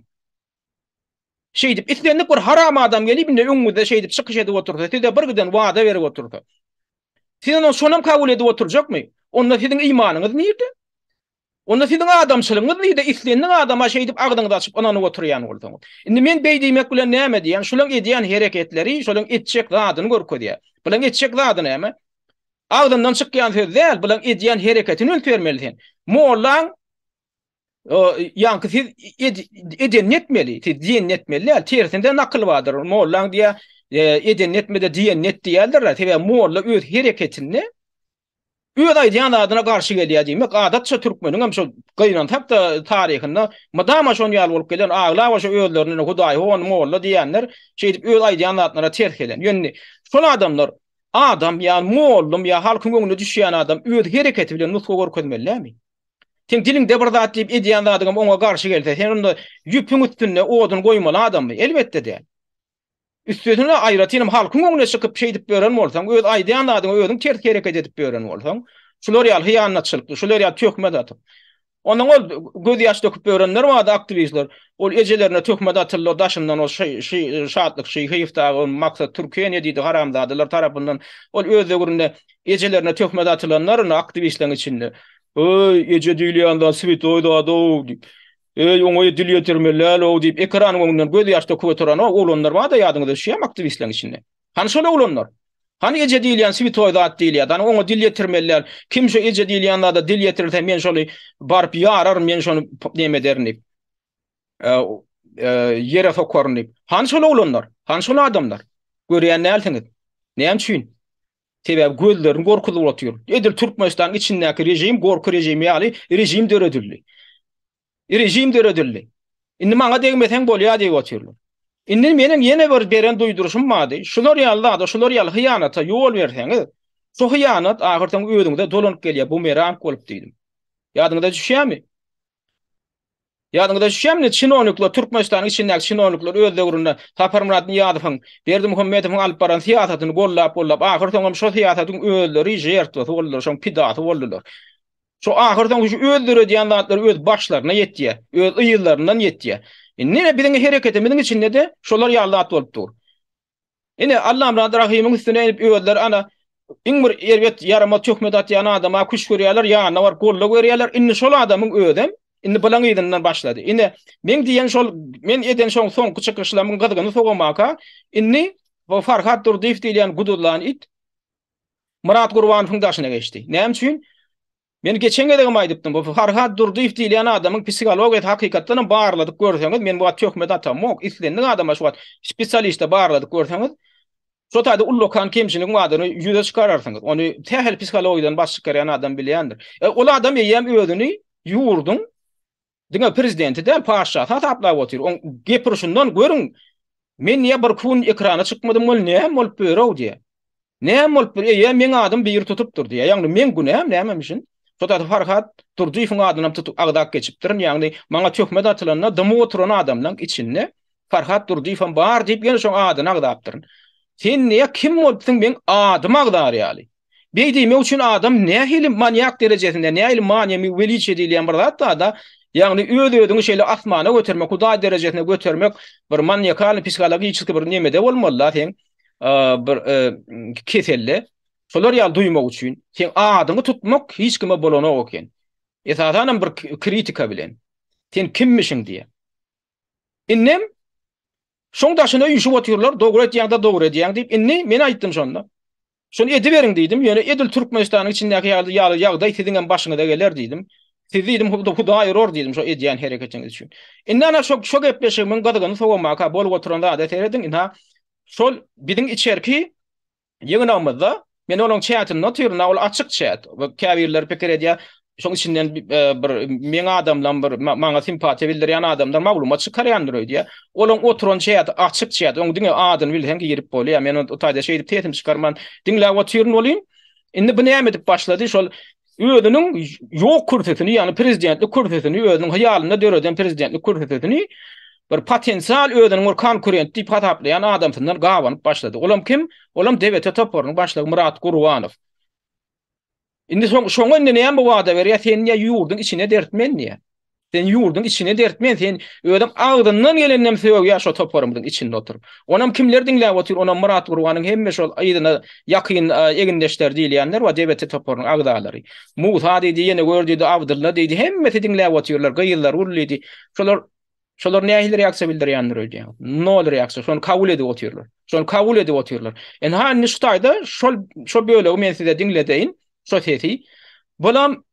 Şeýdip islendik bir haram adam gelip indi öňüňizde şeýdip çykyş edip otursa, size bir giden wada berip otursa. Siz onuň şonam kabul edip oturjakmy? Onda siziň imanyňyz nirde? Onda siziň adamçylygyňyz nirde, islendik adama şeýdip agzyňyzy açyp ynanyp oturýan bolsaňyz. Indi men beý diýmek bilen näme diýýän, şulaň edýän hereketleri şolaň etjek zadyny görkezýär. Bulaň etjek zady näme? Agzyndan çykýan söz däl, bulaň edýän hereketini üns bermeli sen. Mollaň ýaňky siz edenini etmeli, siz diýenini etmeli däl. Tersinde nakyl bardyr. Mollaň diýýär, edenini etmede diýenini et diýerler. Sebäbi molla öz hereketinde Öz aýdýan zadyna garşy gelýär diýmek, adatça türkmeniňem şo gynansak-da taryhynda mydama şon ýaly bolup gelen, aglaba şo özlerine hudaý, hon, molla diýýänler şeýdip öz aýdýan zatlaryna ters gelen. Ýöne şol adamlar adam ýa mollum ýa halkyň göwnüne düşýän adam öz hereketi bilen nusga görkezmeli dälmi? Seň diliňde bir zat diýip edýän zadyňam oňa garşy gelse, sen onda ýüpüň üstünde odun goýmaly adammy? Elbetde däl. Üstesine aýratynam halkyň öňüne çykyp şeýdip ýören bolsaň, öz aýdýan zadyňa özüň ters hereket edip ýören bolsaň, şular ýaly hyýanatçylykly, şular ýaly töhmet atyp. Ondan ol gözýaş döküp ýörenler bardy aktiwistler, ol ejelerine töhmet atyldylar daşyndan ol şy-şy Şatlyk Şyhyýew dagy ol Maksat Türkiýe ne diýdi haramzadalar tarapyndan ol öz döwründe ejelerine töhmet atylanlar indi aktiwistleriň içinde. Öý, eje diýilýän zat swetoý zad-ow diýip. Öý oňaýy dil ýetirme lalow diýip ekranyň öňünden göz ýaş döküp oturan o oglanlar barda ýadyňyza düşýämi aktiwistleriň içinde? Hany şol oglanlar? Hany eje diýilýän switoý zat diýilýärdi hany oňa dil ýetirmeli läl kim şo eje diýilýän zada dil ýetirirse men şony baryp ýararyn men şony neme ederin diýip ýere sokaryn diýip hany şol oglanlar hany şol adamlar görýän dälsiňiz näme üçin Sebäbi gözlerini gorkuzyp otyr. Edil Türkmenistanyň içindäki režim gorky režimi ýaly režim döredildi. Režim döredildi. Indi maňa degmeseň bolýar diýip otyrlar. Indi meniň ýene bir beren duýduryşym bardy. Şular ýaly zada, şular ýaly hyýanata ýol berseňiz, şu hyýanat ahyrsoňy özüňize dolanyp gelýär, bumerang bolup diýdim. Ýadyňyza düşýärmi? Ýadyňyza düşýärmi, çinonikler, Türkmenistanyň içindäki çinonikler öz döwründe Saparmyrat Nyýazowyň, Berdimuhamedowyň alyp baran syýasatyny gollap-gollap, ahyrsoňam şo syýasatyň özleri žertwasy boldular, şoň pidasy boldular. Şo ahyrsoňy şu öz döredýän zatlary öz başlaryna ýetýär, öz yzlaryndan ýetýär. Indi ine biziň hereketimiziň içinde-de şolar ýaly zat bolup dur. Ine, Allam zady Rahymyň üstüne inip, özleri ana, iň bir erbet, ýaramaz töhmet atýan adama küşt görýärler, ýanyna baryp goldaw berýärler. Indi şol adamyň özem, indi bylaň yzyndan başlady. Ine, meň diýen şol, men eden şol soňky çykyşlamyň gyzgyny sowamaka, indi bu Farhat Durdyýew diýilýän guduzlan it Myrat Gurbanowyň daşyna geçdi. Näme üçin? Men geçen gezegem aýdypdym, bu Farhad Durdyýew diýilýän adamyň psihologiýasy hakykatdan hem barladyp görseňiz, men bu wagt töhmet atamok, islendik adama şu wagt spesialiste barladyp görseňiz, şo taýda ullakan kemçiligiň bardygyny ýüze çykararsyňyz. Ony sähel psihologiýadan baş çykarýan adam bilýändir. Ol adam eýýäm özüni ýurduň Diňe prezidenti däl paşşasy hasaplap otyr oň gepirişinden görüň men niýe bir kun ekrana çykmadym bol näme bolup börow diýä näme bolup bir eýe meň adym biri tutupdyr diýä ýagny meň günäm nämemişin şodasy farhat durdyýewiň adynam tutup agzap geçipdirin ýagny maňa töhmet atylanda dymyp oturan adamlaň içinde farhat durdyýewem bar diýip ýene şoň adyny agzapdyryn sen niýe kim bolupsyň meň adymy agzar ýaly. Beý diýmek üçin adam nähili manýak derejesinde, nähili manýamy weliçiýe diýilýän bir zat barda, ýagny öz-özüňi şeýle asmana götermek, hudaý derejesine götermek bir manýakalnyý psihologiçeskiý bir nemede bolmaly-da seň bir keselde. Şolar ýaly duýmak üçin seň adyňy tutmak hiç kime bolanok eken. Esasanam bir kritika bilen. Sen kimmişiň diýýär. Indem şoň daşyna üýşüp otyrlar, dogry edýäň-de, dogry edýäň diýip, indi men aýtdym şonda. Şony ediberiň diýdim, ýöne edil Türkmenistanyň içindäki ýaly ýaly ýagdaý siziňem başyňyza geler diýdim. Siz diýdim Hudaý urur diýdim şo edýän hereketiňiz üçin. Indi ana şo şo gepleşigimiň gyzgyny sowamaka bolup oturan zada serediň, ynha şol biziň içerki Ýygnagymyzda Men onuň çätinde otyryn-a, ol açyk çät. Käbirleri pikir edýär, şoň içinden bir meň adamlam, bir maňa simpatiýa bildirýän adamdan maglumat çykarýandyr öýdýär. Olaň oturan çäti açyk çät, oň diňe adyny bilseň girip bolýar. Men o taýda şeýdip sesimi çykarman diňläp otyryn welin, indi bu näme edip başlady, şol özüniň ýok kürsüsini, ýagny prezidentlik kürsüsini, özüniň hyýalynda döreden prezidentlik kürsüsini bir potensial özüniň bir konkurent diýip hasaplaýan adamsyndan gabanyp başlady. Olam kim? Olam DBT toparynyň başlygy Myrat Gurbanow. Indi şoňa indi näme wada berýär? Sen ýa ýurduň içine dertmen diýýär. Sen ýurdyň içine dertmen sen özüň agzyndan geleninem sögýä şo toparymyzyň içinde oturyp. Onam kimler diňläp otyr onam Myrat Gurbanyň hemme şol yzyna ýakyn egindeşler diýilýänler we DBT toparynyň agzalary. Musa diýdi ýene gör diýdi Abdylla diýdi hemmesi diňläp otyrlar gyzlar ul diýdi. Şolar Şolar nähili reaksiýa bildirýändir öýdýän. Nol reaksiýa. Şony kabul edip otyrlar. Şony kabul edip otyrlar. Enha indi şu taýda şol şo bölegi men size diňledeýin. Şo sesi. Bulam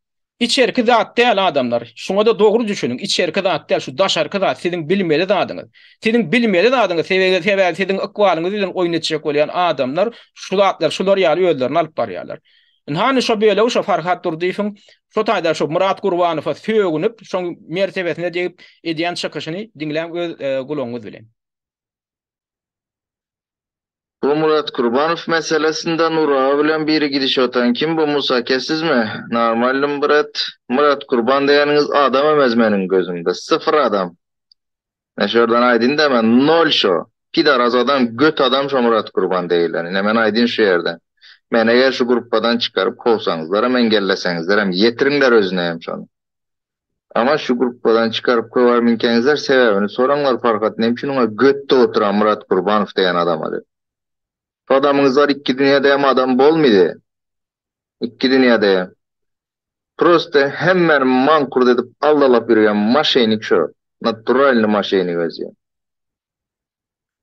Içerki zat däl adamlar, şuňada dogry düşüniň, içerki zat däl, şu daşarky zat siziň bilmeli zadyňyz. Siziň bilmeli zadyňyz sebegi sebäbi siziň ykbalyňyz bilen oýun etjek bolýan adamlar şu zatlar şular ýaly özlerini alyp barýarlar. Indi hany şo bölegi şo Farhat Durdyýewiň şo taýda şo Murat Gurbanowa sögünip şoň mertebesine degip edýän çykyşyny diňläň öz gulagyňyz bilen. Bu Murat Kurbanow meselesinde Nurawa bilen biri gidişip otan kim bu Musa aka sizmi? Normalnym brat. Murat Kurban degeniňiz adam emez meniň gözümde. Syfyr adam. Men şu ýerden aýdyn da men nol şo. Pidaraz adam göt adam şo Murat Kurban deýilen. Ine men aýdyn şu ýerden. Meni eger şu gruppadan çykaryp kowsaňyzlaram eňgelleseňizlerem ýetiriňler özüne hem şony. Ama şu gruppadan çykaryp köwär minkeňizler sebäbini soraňlar Farhat nem üçin oňa götde oturan Myrat Gurbanow degen adama dep. Şu adamyňyz bar ikki dünýäde hem adam bolmydy. Ikki dünýäde hem. Prosta hemmäni mankurt edip aldalap ýürgen maşenik şu. Naturalny maşenik özü.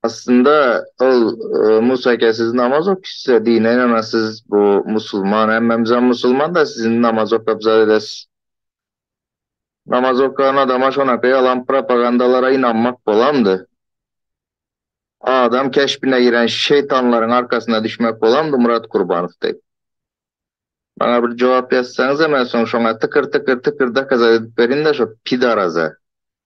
Aslynda ol Musa eke siz namaz ok size dine ýaňa siz bu musulman hemmemizem musulman da sizin namaz okap zat edes. Namaz okan adama şonaka ýalan propagandalara ynanmak bolamdy. Adam keşbine giren şeýtanlaryň arkasyna düşmek bolamdy Murat Kurbanow deý. Maňa bir jogap ýazsaňyza men soň şoňa tykr tykr tykr dokazat edip berin da şo pidaraza.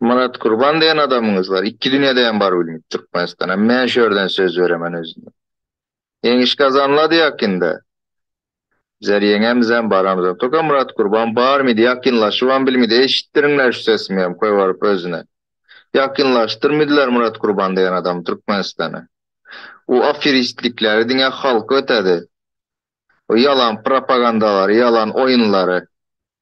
Murat Gurban diýen adamyňyz bar. Iki dünýäde hem bar bilmit Türkmenistana. Men şu ýerden söz beremen özüne. Ýeňiş gazanyladyk ýakynda. Bizler ýeňemis hem baramyz hem. Toka Murat Gurban bar midi ýakynlaşyp hem bilmidi. Eşitdiriňler şu sesimi hem köý baryp özüne. Ýakynlaşdyr midiler Murat Gurban diýen adamy Türkmenistana. O aferistlikleri diňe halk ötedi. O ýalan propagandalary, ýalan oýunlary.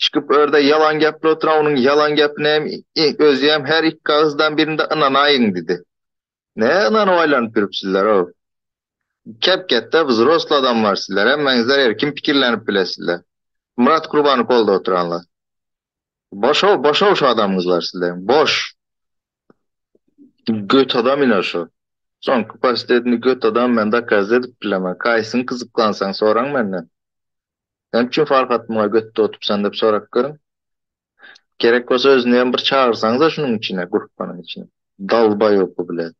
Çykyp örde ýalan gepli otyran onuň ýalan gepine hem özüem her iki agyzdan birinde ynanaýyň didi. Ne ynanyp aýlanyp ýürüpsizler-ow. Kep ketde wzrosly adamlar sizler hemmeňizler erkin pikirlenip bilesizler. Myrat Gurbany goldap otyranlar. Boşow boşow şu adamyňzlar sizleriň boş. Göt adam ine şu. Soňky post edini göt adam men dokaz edip bilemen kaýsyny gyzyklansaň soraň menden. Näme üçin Farhat muňa göt dotupsan diýip sorap görüň. Gerek bolsa özüni hem bir çagyrsaňyza şunuň içine, grupbanyň içine. Dalbaýopy bilen.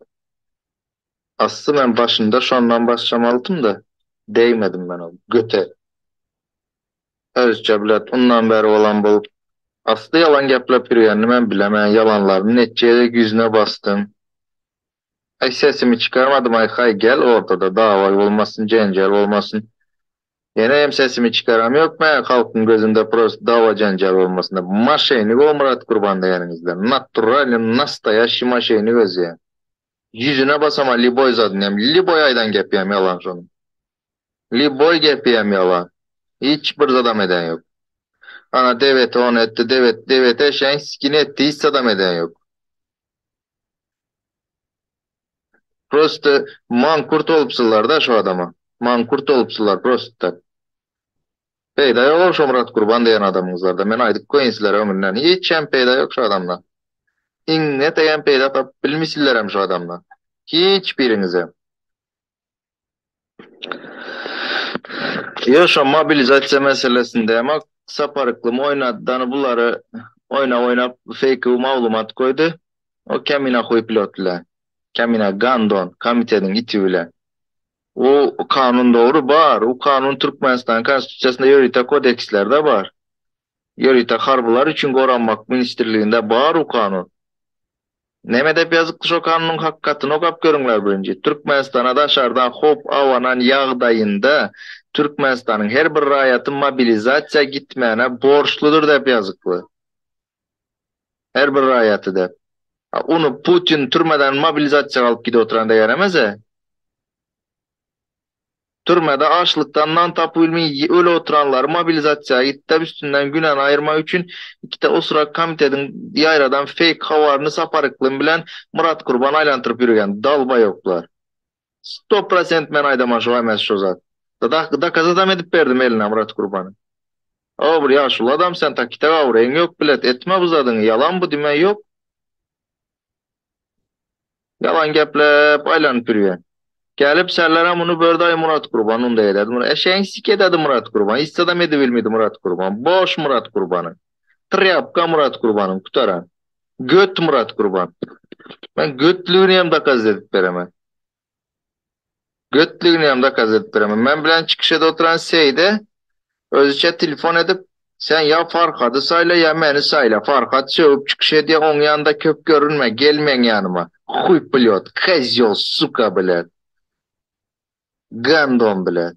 Asly men başynda şondan başlamalydym-da, degmedim men ol göte. Özüçe bilet undan bäri bolan bolup. Asly ýalan geplep ýürgenini men bilemen, ýalanlaryny netjek edip ýüzüne basdym. Aý sesimi çykarmadym aýkaý gel ortada dawaý bolmasyn jenjel bolmasyn ýene hem sesimi çykaram ýok mä halkyň gözünde prosta dawa jenjel bolmasyn maşenik o Myrat gurban degeninizden naturalny nastaýaşşy maşenik özýä ýüzüne basama liboý zadyny hem liboý aýdan gepi hem ýalan şonuň liboý gepi hem ýalan hiç bir zadam eden ýok ana deweti ony etdi dewet deweti eşegiň sikini etdi hiç zadam eden ýok. Prosta mankurt bolupsyzlarda şu adama. Mankurt bolupsyzlar prosta. Peýda ýok-ow şo Myrat Gurban diýen adamyňyzlarda. Men aýdyp goýyn sizlere öňünden. Hiçem peýda ýok şu adamda. Iňňe teýen peýda tapyp bilmisilerem şu adamda. Hiç biriňizem. Ýöne şo mobilizasiýa meselesinde hem Sapar Yklym oýnadany bulary oýnap oýnap feýkiw maglumat goýdy. O kemina huý pilot ile. Kemina gandon komitediň iti bile. U kanun dogry bar. U kanun Türkmenistanyň konstitusiýasynda ýörite kodekslerde bar. Ýörite harbylar üçin goranmak ministrliginde bar u kanun. Neme dep ýazypdy şo kanunyň hakykatyn okap görüňler birinji. Türkmenistana daşardan howp abanan ýagdaýynda Türkmenistanyň her bir raýaty mobilizasiýa gitmäne borçludyr dep ýazyply. Her bir raýaty dep. A uny Putin türmeden mobilizasiýa galyp gidip oturanda ýaramasa. Türmede açlykdan nan tapybilmey öli oturanlary mobilizasiýa gitdep üstünden günäni aýyrmak üçin ikide osurak komitediň ýaýradan feýk habaryny Sapar Yklym bilen Myrat Gurban aýlantyryp ýürgen dalbaýoklar. Sto prosent men aýdaman şo emes şo zat. Dadak dokazadam edip berdim eline Myrat Gurbany. O bir ýaşuly adam sen takita gawur eň ýok bilet etme bu zadyňy ýalan bu dime ýok. Ýalan gepläp aýlanyp ýürýän. Gelip şäherlere muny bördaý Murat Gurban unda ederdi muny eşegiň siki ededi Murat Gurban issadam edibilmidi Murat Gurban boş Murat Gurbany trýapka Murat Gurbanyň kutaran göt Murat Gurban men götlügini hem dokazit edip beremen. Götliginem zakaz edip beremen. Men bilen çykyş ede oturan Seýde özüçe telefon edip, Sen ýa Farhady saýla, ýa meni saýla. Farhat sögüp çykyş edýär, oň ýanynda köp görünme, gel meň ýanyma. Huý plýot, kozýol, suka, blet. Gandon, blet.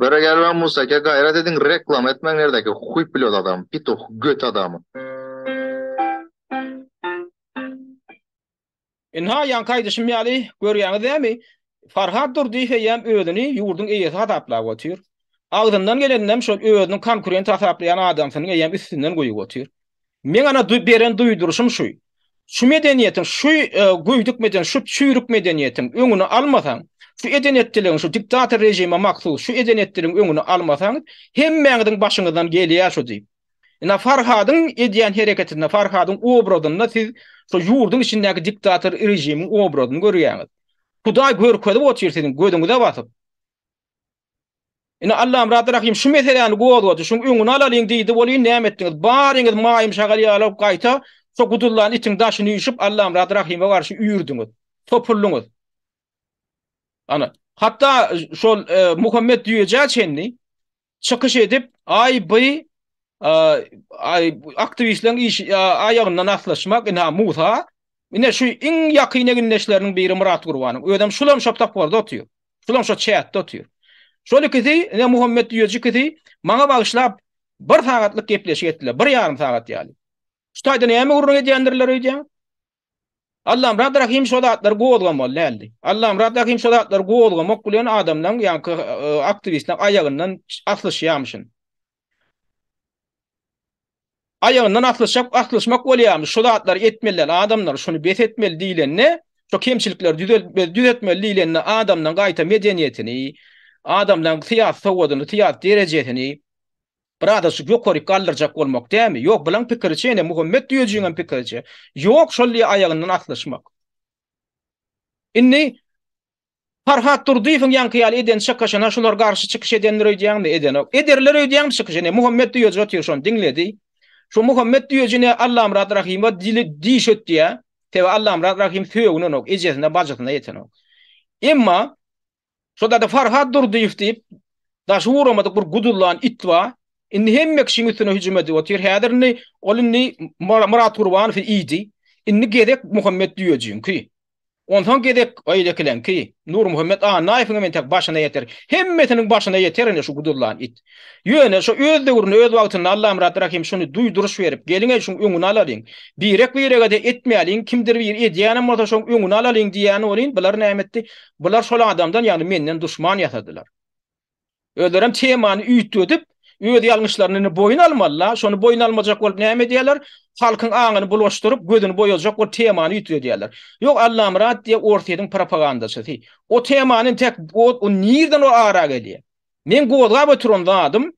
Bere gel lan Museke gaýrat ediň reklama etmäň nerdäki huý pilot adam pituh göt adamy. Ynha ýaňky aýdyşym ýaly görýäňiz dämi Farhat Durdyýew eýýäm özüni ýurduň eýesi hasaplap otyr. Agzyndan geleninem şol özüniň konkurent hasaplaýan adamsynyň eýýäm üstünden guýup otyr. Meň ana beren duýduryşym şu. Şu medeniýetiň, şu göýdük medeniýetiň, şu çüýrük medeniýetiň öňüni almasaň, şu edenetdiligiň, şu diktator režime mahsus şu edenetdiligiň öňüni almasaň, hemmäňiziň başyňyzdan gelýär şu diýip. Ina Farhadyň edýän hereketinde, Farhadyň obrazynda siz şu ýurduň içindäki diktator režimiň obrazyny görýäňiz. Hudaý görkezip otyr siziň gözüňize basyp. Ine, Allamyrat Rahym şu meseläni gozgady, şuň öňüni alalyň diýdi welin näme etdiňiz? Baryňyz maýym şagal ýaly gaýta şo gudullan itiň daşyny üýşüp Allamyrat Rahyma garşy üýrdiňiz, topuldyňyz. Ana, hatda şol Muhammet Düýejä çenli çykyş edip, aý by aktiwistleriň işi aýagyndan aslyşmak, ine ha Musa, ine şu iň ýakyn egindeşleriniň biri Myrat Gurbanyň, özem şulam şo toporda otyr. Şulam şo çäkde otyr. Şol ikisi, ine Muhammet düýeji ikisi maňa bagyşlap bir sagatlyk gepleşik etdiler, bir ýarym sagat ýaly. Şu taýda näme gürrüň edýändirler öýdýän? Allamyrat Rahim şo zatlary gozgamaly däldi. Allamyrat Rahim şo zatlary gozgamak bilen adamlaryň, ýa-ni e, aktiwistler aýagyndan aslyşýamyşyn. Aýagyndan aslyşak aslyşmak bolýarmyş şu zatlary etmeliler adamlar şuny bes etmeli diýlende şu kemçilikleri düzeltmeli düzeltmeli diýlende adamdan gaýta medeniýetini adamdan syýasy sowadyny syýasy derejesini biraz şu ýokaryk galdyrjak bolmak dämi ýok bulaň pikiriçe ene Muhammet düýejiňem pikiriçe ýok şol diýe aýagyndan aslyşmak indi Farhat Durdyýewiň ýaňky ýaly eden çykyşyna şular garşy çykyş edendir öýdýäňmi? Edenok. Ederler öýdýäňmi çykyş? Ine, Muhammet Düýeji otyr şony diňledi. Şu Muhammet Düýeji ine Allamyrat Rahymowa dili diş ötdýä. Sebäbi Allamyrat Rahym sögünenok, ejesine, bajysyna ýetenok. Emma şo dada Farhat Durdyýew diýip daşy ugramadyk bir gudullan it bar. Indi hemme kişiň üstüne hüjüm edip otyr. Häzir indi ol indi Myrat Gurbanowyň idi. Indi gezek Muhammet Düýejiňki. Onsoň gezek Aýlekileňki, Nurmuhammet Annaýewiňem entek başyna ýeter. Hemmesiniň başyna ýeter indi şu guduzlan it. Ýöne şo öz döwründe, öz wagtynda Allamyrat Rahym şuny duýduryş berip, Geliň-eý şuň öňüni alalyň. Birek-birege-de etmäliň, kimdir biri edýänem bolsa şoň öňüni alalyň diýýäni welin, bular näme etdi? Bular şol adamdan, ýagny menden duşman ýasadylar. Özlerem temany üýtgedip, öz ýalňyşlaryny boýun almaly-la, şony boýun almajak bolup näme edýärler? Halkyň aňyny bulaşdyryp, gözüni boýazjak bolup temany üýtgedýärler. Ýok, Allamyrat diýýä Orsýetiň propagandaçysy. O temany entek o nirden o ara gelýä? Meň gozgap oturan zadym,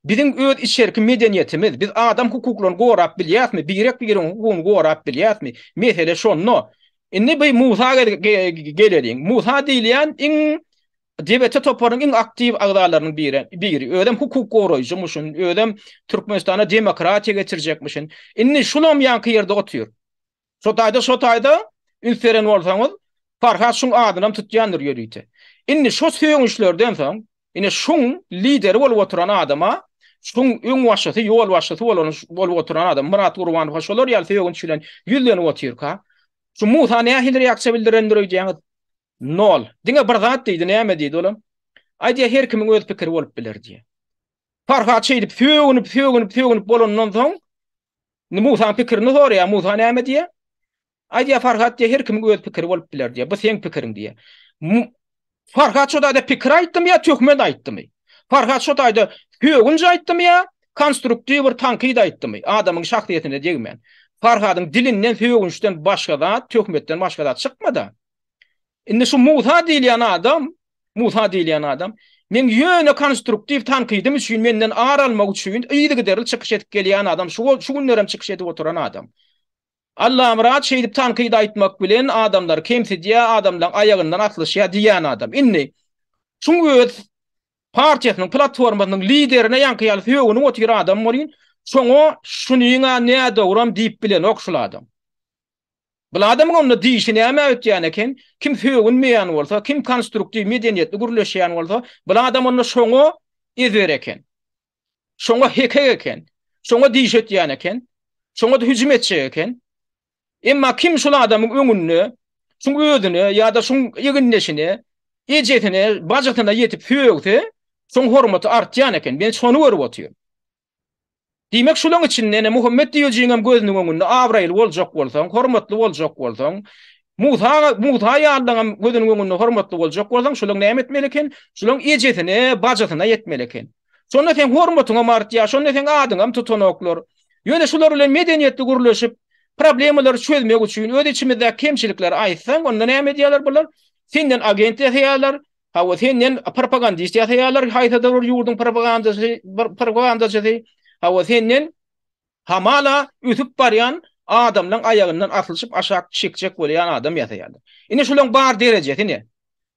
biziň öz içerki medeniýetimiz, biz adam hukuklaryny gorap bilýäsmi, birek-biregiň hukugyny gorap bilýäsmi? Mesele şonda. Indi bu Musa geleliň. Musa diýilýän iň DBT toparynyň iň aktiw agzalarynyň biri, biri. Özem hukuk goraýjymyşyn, özem Türkmenistana demokratiýa getirjekmişin. Indi şulam ýaňky ýerde otyr. Şo taýda, şo taýda üns beren bolsaňyz, Farhat şuň adynam tutýandyr ýörite. Indi şo sögünçlerden soň, ine şuň lideri bolup oturan adama, şuň öňbaşçysy, ýolbaşçysy bolan, bolup oturan adam Myrat Gurbanowa şolar ýaly sögünç bilen ýüzlenip otyrka, şu Musa nähili reaksiýa bildirendir öýdýäňiz? Nol. Diňe bir zat diýdi, näme diýdi olam? Aýdýa her kimiň öz pikiri bolup biler diýýä. Farhat şeýdip sögünip, sögünip, sögünip bolandan soň Musaň pikirini soraýa, Musa näme diýýä? Aýdýa Farhat diýýä her kimiň öz pikiri bolup biler diýýä, bu seň pikiriň diýýä. Farhat şo taýda pikir aýtdymy ýa töhmet aýtdymy? Farhat şo taýda sögünç aýtdymy ýa konstruktiwr tankyt aýtdymy, adamyň şahsyýetine degmän? Farhadyň dilinden sögünçden başga zat, töhmetden başga zat çykmada. Indi şu Musa diýilýän adam, Musa diýilýän adam Men ýöne konstruktiw tankydym üçin menden ar almak üçin yzygiderli çykyş edip gelýän adam, şu şu günler hem çykyş edip oturan adam. Allamyrat şeýdip tankyt aýtmak bilen adamlary kemsidýär, adamlaryň aýagyndan aslyşýar diýýän adam. Indi şuň öz partiýasynyň platformasynyň liderine ýaňky ýaly sögünip otyr adam bolýyn, şoňa şunyň-a nädogram diýip bilenok şul adam. Bul adamyň onda dişi näme ötýän eken, kim sögünmeýän bolsa, kim konstruktiw, medeniýetli gürleşýän bolsa, bul adam onda şoňa ezber eken. Şoňa hekek eken. Şoňa diş ötýän eken. Şoňa-da hüjüm etjek eken. Emma kim şul adamyň öňünde, şuň özüne ýa-da şuň egindeşine, ejesine, bajysyna ýetip sögse, şoň hormaty artýan eken. Men şony görüp otyryn. Diýmek, şulaň içinde ene Muhammet diýejiňem gözüniň öňünde abraýly boljak bolsaň, hormatly boljak bolsaň, Musa, Musa ýalylaňam gözüniň öňünde hormatly boljak bolsaň, şulaň näme etmeli eken? Şulaň ejesine, bajysyna ýetmeli eken. Şonda seň hormatyňam artýar, şonda seň adyňam tutanoklar. Ýöne şular bilen medeniýetli gürleşip, problemalary çözmek üçin öz içimizdäki kemçilikleri aýtsaň, onda näme edýärler bular? Senden agent ýasaýarlar, Hawa senden propagandist ýasaýarlar haýsydyr bir ýurduň propagandasy bir propagandaçysy hawa senden hamala ösüp barýan adamlaň aýagyndan aslyşyp aşak çekjek bolýan adam ýasaýarlar. Ine şulaň bar derejesi ne?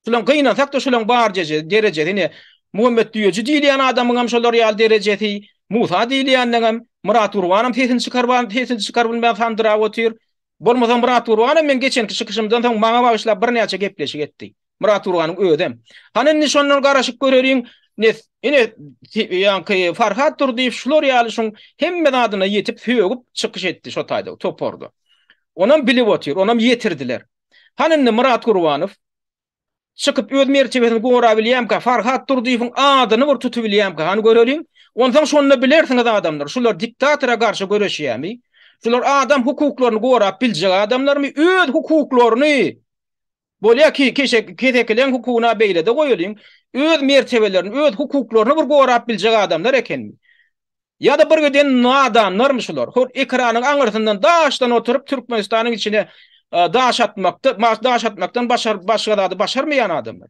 Şulaň gynansakda şulaň bar derejesi ne? Muhammet düýeji diýilýän adamyňam şolar ýaly derejesi, Musa diýilýänleňem, Myrat Gurbanam sesini çykarban sesini çykaryp bilmän sandyrap otyr. Bolmasa Myrat Gurbanam meň geçenki çykyşymdan soň maňa bagyşlap birnäçe gepleşik etdi. Myrat Gurbanyň özem. Hany indi şondan garaşyp göreliň, ne ine ýaňky Farhat Durdyýew şular ýaly şuň hemme zadyna ýetip sögüp çykyş etdi şo taýda toparda. Onam bilip otyr, onam ýetirdiler. Hany indi Myrat Gurbanow Çykyp öz mertebesini gorabilýämka, Farhat Durdyýewiň adyny bir tutubilýämka, hany göreliň. Onsoň şonda bilersiňiz adamlar, şular diktatora garşy göreşýärmi? Şular adam hukuklaryny gorap biljek adamlarmy? Öz hukuklaryny, bolýa ki, kesekileň hukugyna beýlede goýalyň, öz mertebelerini, öz hukuklaryny bir gorap biljek adamlar ekenmi? Ýa-da birgiden nadanlarmy şular? Hol ekranyň aňyrsyndan daşdan oturyp Türkmenistanyň içine daş atmakda, daş atmakdan başar, başga zady başarmaýan adamlar.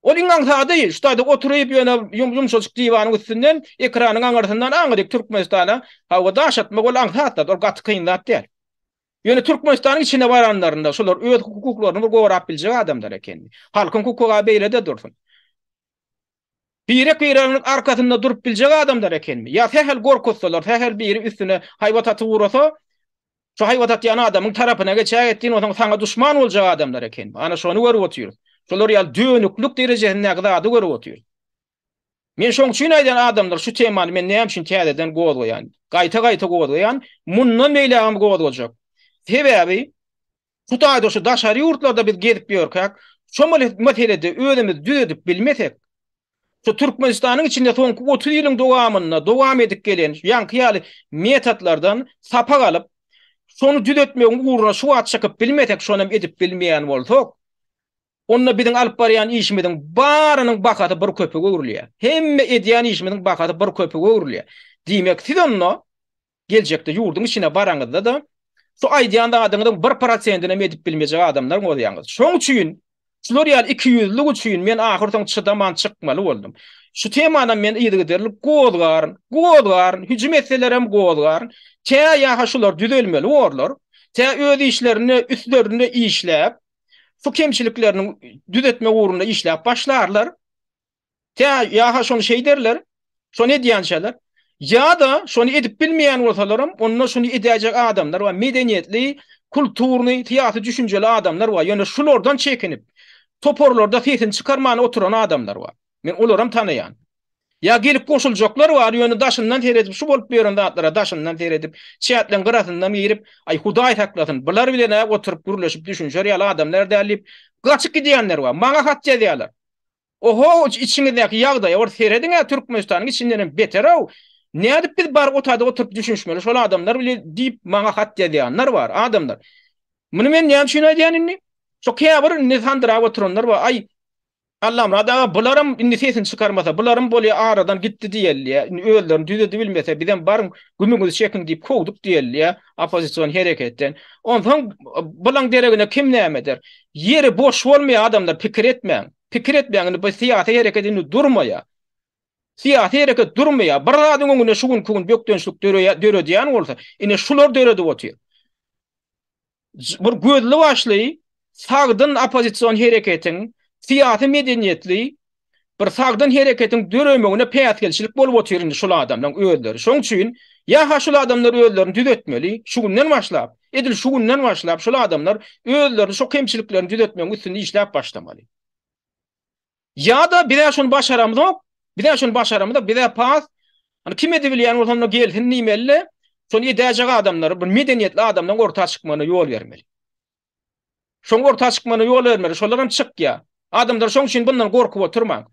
Ol iň aňsady, şutada oturyp ýöne ýumşajyk diwanyň üstünden ekranyň aňyrsyndan aňryk Türkmenistana hawa daş atmak ol aňsat zat, ol gaty kyn zat däl. Ýöne Türkmenistanyň içine baranlarynda şular öz hukuklaryny bir gorap biljek adamlar ekeni. Halkyň hukugy beýlede dursun. Birek-bireginiň arkasynda durup biljek adamlar ekenmi? Ýa sähel gorkuzsalar, sähel biri üstüne haýbat atyp ugrasa, şo haýbat atýan adamyň tarapyna geçäýe etdigiň onsoň saňa duşman boljak adamlar ekenmi? Ana şony görüp otyrys. Şolar ýaly dönüklik derejesindäki zady görüp otyrys. Men şoň üçin aýdýan adamlar şu temany men näme üçin täzeden gozgaýan? Gaýta-gaýta gozgaýan, mundan beýlägem gozgajak. Sebäbi Hudaýda şu daşary ýurtlarda biz gezip ýörkäk, şo meselede özümizi düzedip bilmesek, şu Türkmenistanyň içinde soňky otuz ýylyň dowamynda dowam edip gelen şu ýaňky ýaly metodlardan sapak alyp, şony düzetmegiň ugruna şu wagt çykyp bilmesek, şonam edip bilmeýän bolsak, onda biziň alyp barýan işimiziň barynyň bahasy bir köpüge öwrülýär. Hemme edýän işimiziň bahasy bir köpüge öwrülýär. Diýmek, siz onda Geljekde ýurduň içine baraňyzda-da, şu aýdýan zadyňyzyň bir prosentinem edip bilmejek adamlar bolýaňyz. Şoň üçin, şular ýaly ikiýüzlülik üçin men ahyrsoňy çydaman çykmaly boldum. Şu temanam men yzygiderli gozgaryn, gozgaryn, hüjüm etselerem gozgaryn. Tä ýa-ha şular düzelmeli borlar, tä öz işlerinde üstlerinde işläp, şu kemçiliklerini düzetmek ugrunda işläp başlarlar. Tä ýa-ha şony şeý derler, şony edýänçäler. Ýa-da şony edip bilmeýän bolsalaram, onda şuny edäýjek adamlar bar, medeniýetli, kulturnyý, syýasy düşünjeli adamlar bar, ýöne şulardan çekinip, toparlarda sesini çykarman oturan adamlar bar. Men olaram tanaýan. Ýa gelip goşuljaklar bar, ýöne daşyndan seredip, şu bolup ýören zatlara daşyndan seredip, çäkleň gyrasyndan girip, aý Hudaý saklasyn, bular bilen-ä oturyp gürleşip düşünişer ýaly adamlar däl diýip, gaçyp gidýänler bar. Maňa hat ýazýarlar. Oho içiňizdäki ýagdaýa bir serediňä Türkmenistanyň içindenem beterow nädip biz bar otade oturyp düşünişmeli şol adamlar bile diýip maňa hat ýazýanlar bar adamlar muny men näme üçin aýdýan indi şo käbir indi sandyrap oturanlar bar aý Allamyrat aga bularam indi sesini çykarmasa bularam bolýa aradan gitdi diýelýä indi özlerini düzedi bilmese bizem baryň gümüňizi çekiň diýip kowduk diýelýä oppozision hereketden onsoň bulaň deregine kim näme eder Ýeri boş bolmaýar adamlar pikir etmäň. Pikir etmäň indi bu syýasy hereket indi durmaýar. Syýasy hereket durmaýar. Bir zadyň öňüne şu günki gün bökdençlik döredýän bolsa ine şular döredip otyr. Bir gözli başly sagdyn oppozision hereketiň, syýasy medeniýetli bir sagdyn hereketiň döremegine päsgelçilik bolup otyr indi şul adamlaň özleri şoň üçin ýa ha şul adamlar özlerini düzetmeli şu günden başlap edil şu günden başlap şul adamlar özlerini şo kemçiliklerini düzetmegiň üstünde işläp başlamaly ýa da bizä şony başaramzok bizä şony başaramyzok bizä pas hani kim edibilýän bolsa onda gelsin diýmeli şony edäjek adamlary bir medeniýetli adamlaň orta çykmagyna ýol bermeli Şoň orta çykmana ýol bermeli, şolar hem çykýar. Adamlar şoň üçin bundan gorkup oturmaň.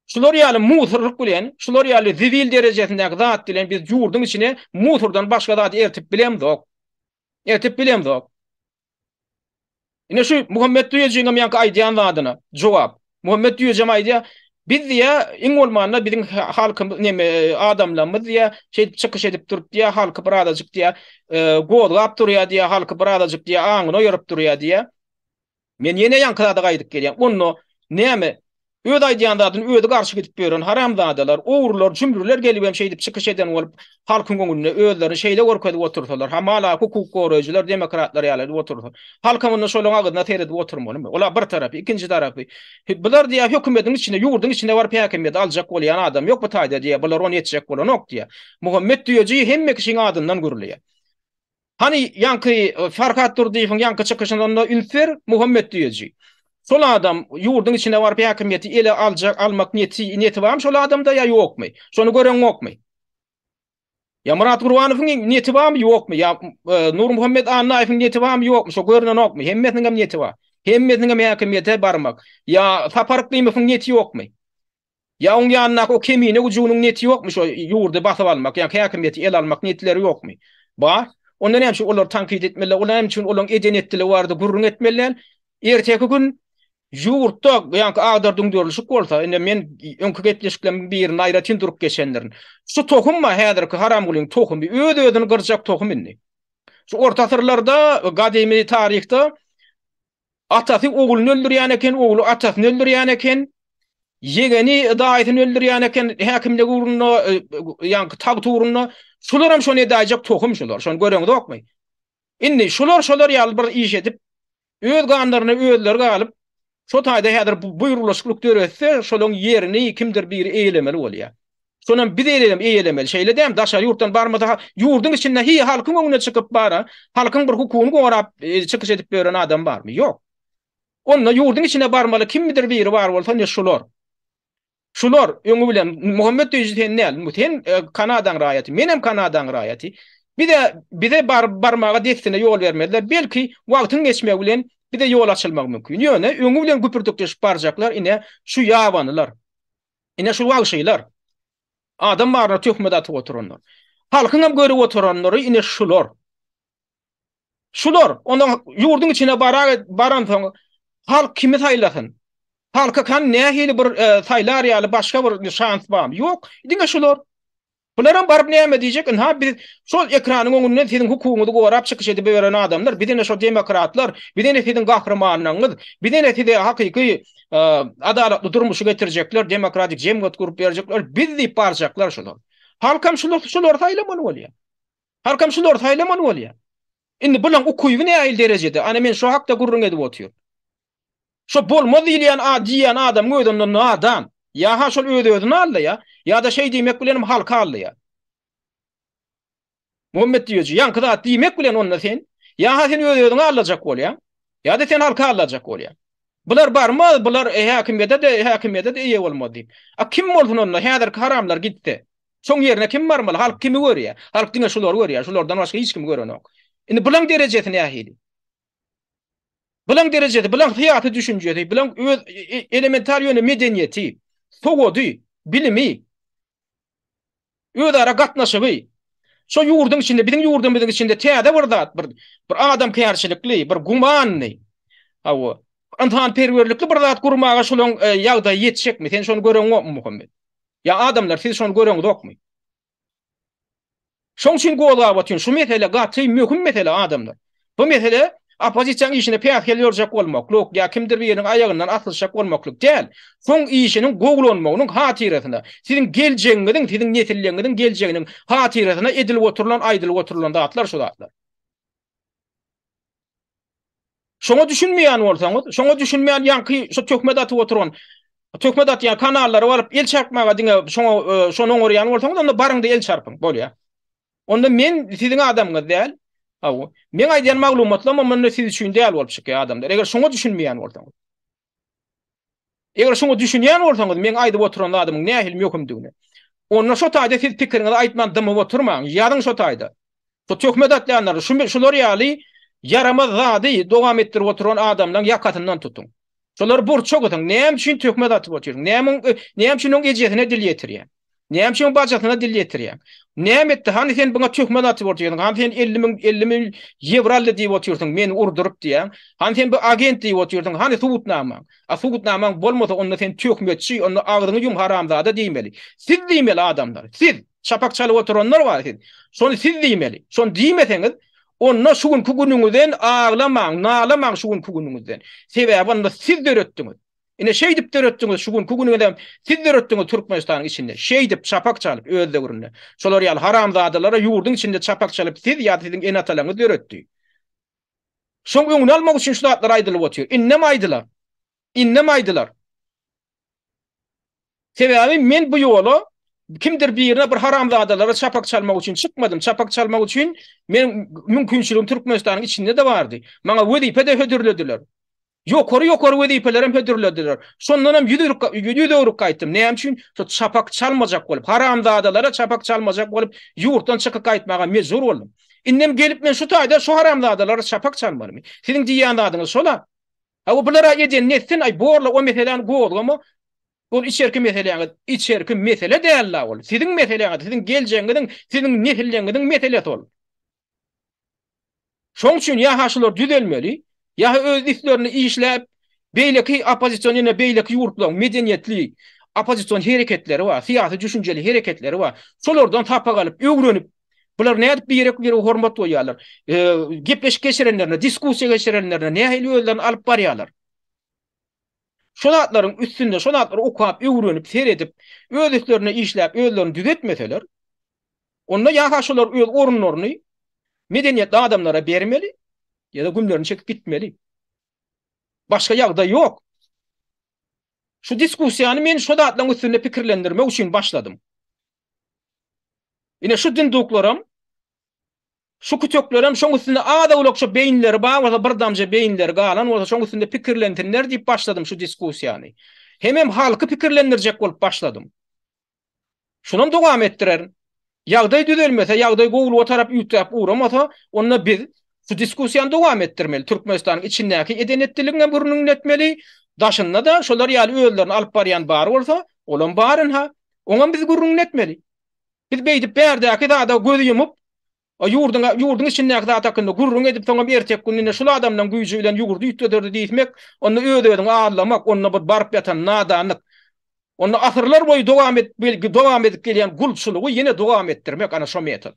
Şular ýaly musurlyk bilen, şular ýaly zibil derejesindäki zat bilen biz ýurduň içine musurdan başga zat ertip bilemzok. Ertip bilemzok. Ine şu Muhammet Düýejigiňem ýaňky aýdýan zadyna jogap. Muhammet Düýejam aýdýar, Biz diýýär, iň bolmanda biziň halkymyz, neme, adamlarymyz diýýär, şeýdip çykyş edip durup diýýär, halky bir azajyk diýýär, gozgap durýar diýýär, halky bir azajyk diýýär, aňyny oýaryp durýar diýýär. Men ýene ýaňky zada gaýdyp gelýän. Onda näme, öz aýdýan zadyny özi garşy gidip ýören haramzadalar, ogrular, jümrüler gelibem şeýdip çykyş eden bolup, halkyň öňünde özlerini şeýle görkezip otursalar, hamala hukuk goraýjylar, demokratlar ýaly edip otursa, halkam onda şolaryň agyzyna seredip oturmalymy? Ola bir tarapy, ikinji tarapy, bular diýýär, hökümediň içinde, ýurduň içinde baryp häkimiýeti aljak bolýan adam ýok bu taýda diýýär, bular ony etjek bolanok diýýär. Muhammet Düýeji hemme kişiň adyndan gürleýär. Hany ýaňky Farhat Durdyýewiň ýaňky çykyşynda üns ber, Muhammet Düýeji. Şol adam ýurduň içine baryp häkimiýeti ele aljak, almak niýeti, niýeti barmy şol adamda ýa ýokmy? Şony göreňokmy? Ýa Myrat Gurbanowyň niýeti barmy ýokmy? Ýa Nurmuhammet Annaýewiň niýeti barmy ýokmy? Şo görnenokmy? Hemmesiniňem niýeti bar. Hemmesiniňem häkimiýete barmak. Ýa Sapar Yklymowyň niýeti ýokmy? Ýa oň ýanyndaky o kemine güjüginiň neti ýokmy şo ýurdy basyp almak ýa häkimiýeti el almak netleri ýokmy? Bar. Onda näme üçin olary tankyt etmeliler? Olar näme üçin olaň eden etdiligi barada gürrüň etmeli däl? Erteki gün ýurtda ýaňky agdar düňderilişik bolsa, indi men öňki gepleşiklerimiň birinde aýratyn durup geçendirin. Şu tohum bar häzirki haramgulyň tohumy öz özüni gyrjak tohum indi. Şu orta asyrlarda gadymy taryhda Atasy ogluny öldürýän eken, ogly atasyny öldürýän eken, ýegeni daýysyny öldürýän eken häkimlik ugrunda, ýaňky tagt ugrunda. Şularam şony edäýjek tohum şular, şony göreňizokmy? Indi şular şolar ýaly bir iş edip, öz ganlaryna özleri galyp, şo taýda häzir bu buýrulyşyklyk döretse, şolaň ýerini kimdir biri eýelemeli bolýar. Şonam biz elem eýelemeli. Şeýle däm daşary ýurtdan barmasa, ýurduň içinde hiý halkyň öňüne çykyp bara, halkyň bir hukugyny gorap çykyş edip ýören adam barmy? Ýok. Onda ýurduň içine barmaly kimdir biri bar bolsa ne şular. Şular öňi bilen Muhammet Döýji sen näl? Sen Kanadaň raýaty, menem Kanadaň raýaty. Bize bize bar barmaga dessine ýol bermezler. Belki wagtyň geçmegi bilen bize ýol açylmagy mümkin. Ýöne öňi bilen güpürtikleşip barjaklar ine şu ýabanylar. Ine şu wagşylar. Adam baryna töhmet atyp oturanlar. Halkyňam görüp oturanlary ine şular. Şular, onda ýurduň içine barar, baransoň halk kimi saýlasyn? Halka kan nähili bir e, saýlar ýaly başga bir şans barmy? Ýok, diňe şular. Bularam baryp näme diýjek ynha biz şol ekranyň öňünden siziň hukugyňyzy gorap çykyş edibiberen adamlar biz ine şo demokratlar biz ine siziň gahrymanlygyňyz biz ine size hakyky adalatly durmuşy getirjekler demokratik jemgyýet gurup berjekler biz diýip barjaklar şular halkam şular şulary saýlamaly bolýar halkam şulary saýlamaly bolýar indi bulaň ukyby nähili derejede ana men şo hakda gürrüň edip otyryn. Şo bolmaz diýilýän a diýýän adamyň özi onda nadan. Ýa-ha şol öz-özüni aldaýar, ýa-da şeý diýmek bilen hem halky aldaýar. Muhammet Düýeji, ýaňky zat diýmek bilen onda sen, ýa-ha sen öz-özüňi aldajak bolýaň, ýa-da sen halky aldajak bolýaň. Bular barmaz, bular häkimiýete-de, häkimiýete-de eýe bolmaz diýip. A kim bolsun onda, häzirki haramlar gitse? Şoň ýerine kim barmaly? Halk kimi görýär? Halk diňe şulary görýär, şulardan başga hiç kimi görenok. Indi bulaň derejesi nähili? Bilen derejesi, bilen syýasy düşünjesi, bilen öz elementar ýöne medeniýeti, sowady, bilimi, özara gatnaşygy, şo ýurduň içinde, biziň ýurdumyzyň içinde täze bir zat, bir bir adamkärçilikli, bir gumanly, hawa, ynsanperwerlikli bir zat gurmaga şolaň e, ýagdaýy ýetişekmi? Sen şony göreňokmy, Muhammet? Ýa adamlar, siz şony göreňzokmy? Şoň üçin gozgabatyn şu mesele gaty möhüm mesele adamlar. Bu mesele oppozisiýaň işine päsgel berjek bolmaklyk ýa kimdir biriniň aýagyndan asylyşjak bolmaklyk däl. Soň işiniň gowulanmagynyň hatyrasyna, siziň geljegiňiziň, siziň nesilleriňiziň geljeginiň hatyrasyna edilip oturylan, aýdylyp oturylan zatlar şu zatlar. Şoňa düşünmeýän bolsaňyz, şoňa düşünmeýän ýaňky şu töhmet atyp oturan töhmet atýan kanallary alyp el çarpmaga diňe şoňa e, şony oňarýan bolsaňyz, onda baryňda el çarpyň, bolýar. Onda men siziň adamyňyz däl. Aw, men aýdýan maglumatlam onda siz üçin däl bolup çykýar adamlar. Eger şoňa düşünmeýän bolsaňyz. Eger şuňa düşünýän bolsaňyz meň aýdyp oturan zadymyň nähili möhümdigini. Onda şo taýda siz pikiriňizi aýtman dymyp oturmaň, ýazyň şo taýda. Bu töhmet atýanlary şu şular ýaly ýaramaz zady dowam etdirip oturan adamlaň ýakasyndan tutuň. Şolary burça gysyň, näme üçin töhmet atyp otyryň, näme üçin oň ejesine dil ýetirýäň. Näme üçin bacasyna dil ýetirýäň? Näme etdi? Hany sen buna töhmet atyp otyrsyň? Hany sen 50 müň 50 müň ýewro aldy diýip otyrsyň, meni urduryp diýýäň? Hany sen bu agent diýip otyrsyň? Hany subutnamaň? A subutnamaň bolmasa, onda sen töhmetçi, onda agzyňy ýum haramzada diýmeli. Siz diýmeli adamlar, siz! Çapak çalyp oturanlar bar siz. Şony siz diýmeli. Şony diýmeseňiz, onda şu günki günüňizden aglamaň, nalamaň şu günki günüňizden. Sebäbi onda siz döretdiňiz. Ine şeýdip döretdiňiz şu günki günüňizem siz döretdiňiz Türkmenistanyň içinde. Şeýdip çapak çalyp öz döwründe. Şolar ýaly haramzadalara ýurduň içinde çapak çalyp siz ýa-da siziň ene-atalaryňyz döretdi. Şoň öňüni almak üçin şu zatlar aýdylyp otyr. Indem aýdylar. Indem aýdylar. Sebäbi men bu ýola kimdir birine bir haramzadalara çapak çalmak üçin çykmadym. Çapak çalmak üçin men mümkinçiligim Türkmenistanyň içinde-de bardy. Maňa wezipe-de hödürlediler. Ýokary-ýokary wezipelerem hödürlediler. Şondanam ýüz öwrük gaýtdym. Näme üçin? Şo çapak çalmajak bolup, haramzadalara çapak çalmajak bolup, ýurtdan çykyp gaýtmaga mejbur boldum. Indem gelip men şu taýda şu haramzadalara çapak çalmalymy? Siziň diýýän zadyňyz şol-a. Hawa, bular-a edenini etsin, aý, bor-la, o meseläni gozgama. Ol içerki meseläňiz. Içerki mesele däl-la ol. Siziň meseläňiz, siziň geljegiňiziň, siziň nesilleriňiziň meselesi ol. Şoň üçin ýa-ha şular düzelmeli, ýa-ha öz üstlerinde işläp, beýleki oppozision ýene beýleki ýurtlaryň medeniýetli oppozision hereketleri bar, syýasy düşünjeli hereketleri bar. Şolardan sapak alyp, öwrenip, bular nädip birek-birege hormat goýýarlar, gepleşik geçirenlerinde, diskussiýa geçirenlerinde nähili özlerini alyp barýarlar? Şo zatlaryň üstünde, şo zatlary okap, öwrenip, seredip, öz üstlerinde işläp, özlerini düzetmeseler, Onda ýa-ha şolar öz orunlaryny medeniýetli adamlara bermeli, ýa-da gümlerini çekip gitmeli. Başga ýagdaý ýok. Şu diskussiýany men şo zatlaryň üstünde pikirlendirmek üçin başladym. Ine şu dynduklaram, şu küteklerem şoň üstünde az-owlakça beýinleri bar bolsa, bir damja beýinleri galan bolsa, şoň üstünde pikirlensinler diýip başladym şu diskussiýany. Hemem halky pikirlendirjek bolup başladym. Şonam dowam etdirerin. Ýagdaý düzelmese, ýagdaý gowulyga tarap üýtgäp ugramasa, onda biz şu diskussiýany dowam etdirmeli. Türkmenistanyň içindäki eden-etdiligiň hem gürrüňini etmeli, daşynda-da şolar ýaly özlerini alyp barýan bar bolsa, olam bar ynha, oňam biz gürrüňini etmeli. Biz beýdip bärdäki zada göz ýumup, O ýurduňa, ýurduň içindäki zat hakynda gürrüň edip, soňam erteki gün ine şul adamlaň güýji bilen ýugurdy üýtgederdi diýsmek, onda öz-özüňi arlamak, onda bir baryp ýatan nadanlyk. Onda asyrlar boýy dowam edip, dowam edip gelýän gulçulygy ýene dowam etdirmek, ana şo metod.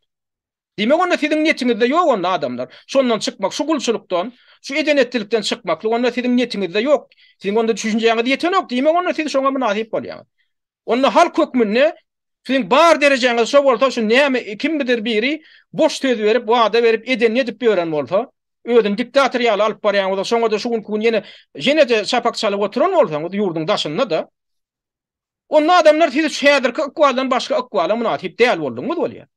Diýmek onda siziň netiňizde ýok onda adamlar. Şondan çykmak, şu gulçulykdan, şu eden-etdilikden çykmaklyk onda siziň netiňizde ýok. Siziň onda düşünjäňiz ýetenok, diýmek onda siz şoňa mynasyp bolýaňyz. Onda halk hökmünde Siziň bar derejäňiz şo bolsa şu näme kimmidir biri boş söz berip wada berip edenini edip ýören bolsa özüni diktator ýaly alyp barýan bolsa şoňada şu günki gün ýene ýenede şapak çalyp oturan bolsaňyz ýurduň daşyndada onda adamlar siz şu häzirki ykbaldan başga ykbala mynasyp däl bolduňyz bolýar.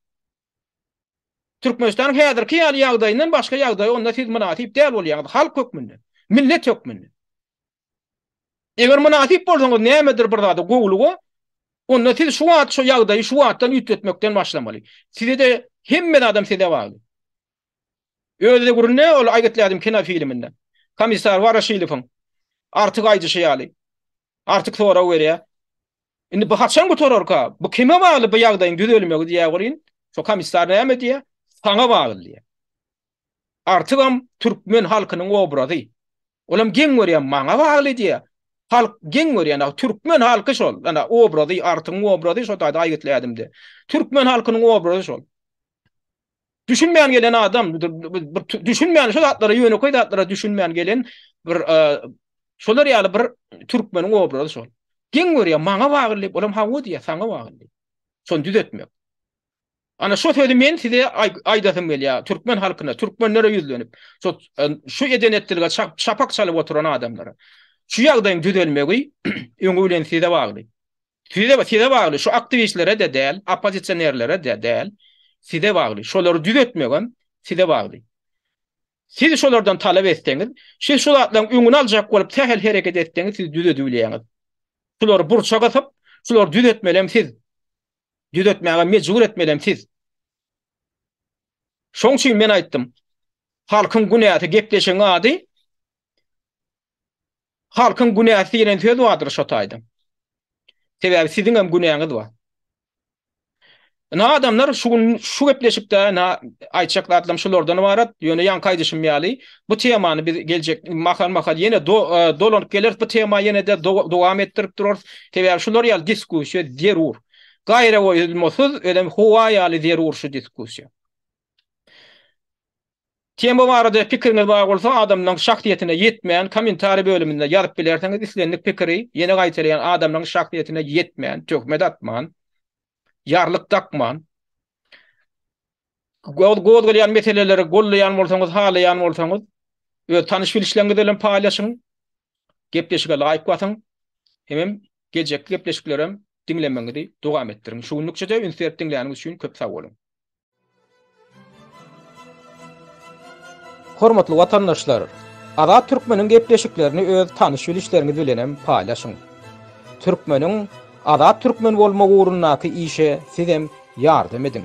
Türkmenistanyň häzirki ýaly ýagdaýyndan başga ýagdaýa onda siz mynasyp däl bolýaňyz halk hökmünde millet hökmünde. Eger mynasyp bolsaňyz nämedir bir zada, gowulyga, onda siz şu wagt şu ýagdaýy şu wagtdan üýtgetmekden başlamaly. Size-de hemme zadam size bagly. Öz döwründe ol Aýgytlädim kinofilminde komissar Waraşilowyň artyk aýdyşy ýaly, artyk sorag berýär. Indi bu haçan gutararka? Bu kime bagly bu ýagdaýyň düzelmegi diýýär welin, şo komissar näme diýýär? Saňa bagly diýýär. Artygam türkmen halkynyň obrazy. Olam geň görýän maňa bagly diýýär. Halk geň görýän, ýa türkmen halky şol. Ýa obrazy, artyň obrazy şo taýda aýgytly ädimde. Türkmen halkynyň obrazy şol. Düşünmän gelen adam, düşünmän şo zatlara, ýönekeý zatlara düşünmän gelen bir şolar ýaly bir türkmeniň obrazy şol. Geň görýär, maňa bagly diýip, olam hawa diýýär, saňa bagly. Şony düzetmek. Ana şo sözi men size aýdasym gelýär, türkmen halkyna, türkmenlere ýüzlenip, şo şu eden-etdilige şapak çalyp oturan adamlara. Şu ýagdaýyň düzelmegi öňi bilen size bagly. Size, size bagly, şu aktiwistlere-de däl, oppozisionerlere-de däl, size bagly. Şolary düzetmegem size bagly. Siz şolardan talap etseňiz, siz şu zatlaryň öňüni aljak bolup sähel hereket etseňiz, siz düzedibilýäňiz. Şulary burça gysyp, şulary düzetmelem siz. düzetmäge mejbur etmelem siz. Şoň üçin men aýtdym. Halkyň günäsi gepleşigiň ady Halkyň günäsi diýlen söz bardyr şo taýda. Sebäbi siziň hem günäňiz bar. Ina adamlar şu gün şu gepleşikde aýtjak zatlarym şulardan ybarat, ýöne ýaňky aýdyşym ýaly Bu temany biz geljek mahal mahal ýene dolanyp geleris. Bu tema ýene de dowam etdirip durarys. Sebäbi şular ýaly diskussiýa zerur. Gaýragoýulmasyz özem howa ýaly zerur şu diskussiýa. Tema barada pikiriňiz bar bolsa adamlaryň şahsyýetine ýetmän kommentariý bölüminde ýazyp bilersiňiz islendik pikiri ýene gaýtalaýan adamlaryň şahsyýetine ýetmän töhmet atman. ýarlyk dakman, gozgalýan meseleleri gollaýan bolsaňyz, halaýan bolsaňyz, öz tanyş-bilişleriňiz bilen paýlaşyň, gepleşige laýyk basyň, hemem geljekki gepleşiklerem diňlemegiňizi dowam etdiriň. Şu günlükçe-de üns berip diňläniňiz üçin köp sag boluň! Hormatly watandaşlar! Azat Türkmeniň gepleşiklerini öz tanyş-bilişleriňiz bilenem paýlaşyň. Türkmeniň Azat Türkmen bolmagy ugrundaky işe sizem ýardam ediň!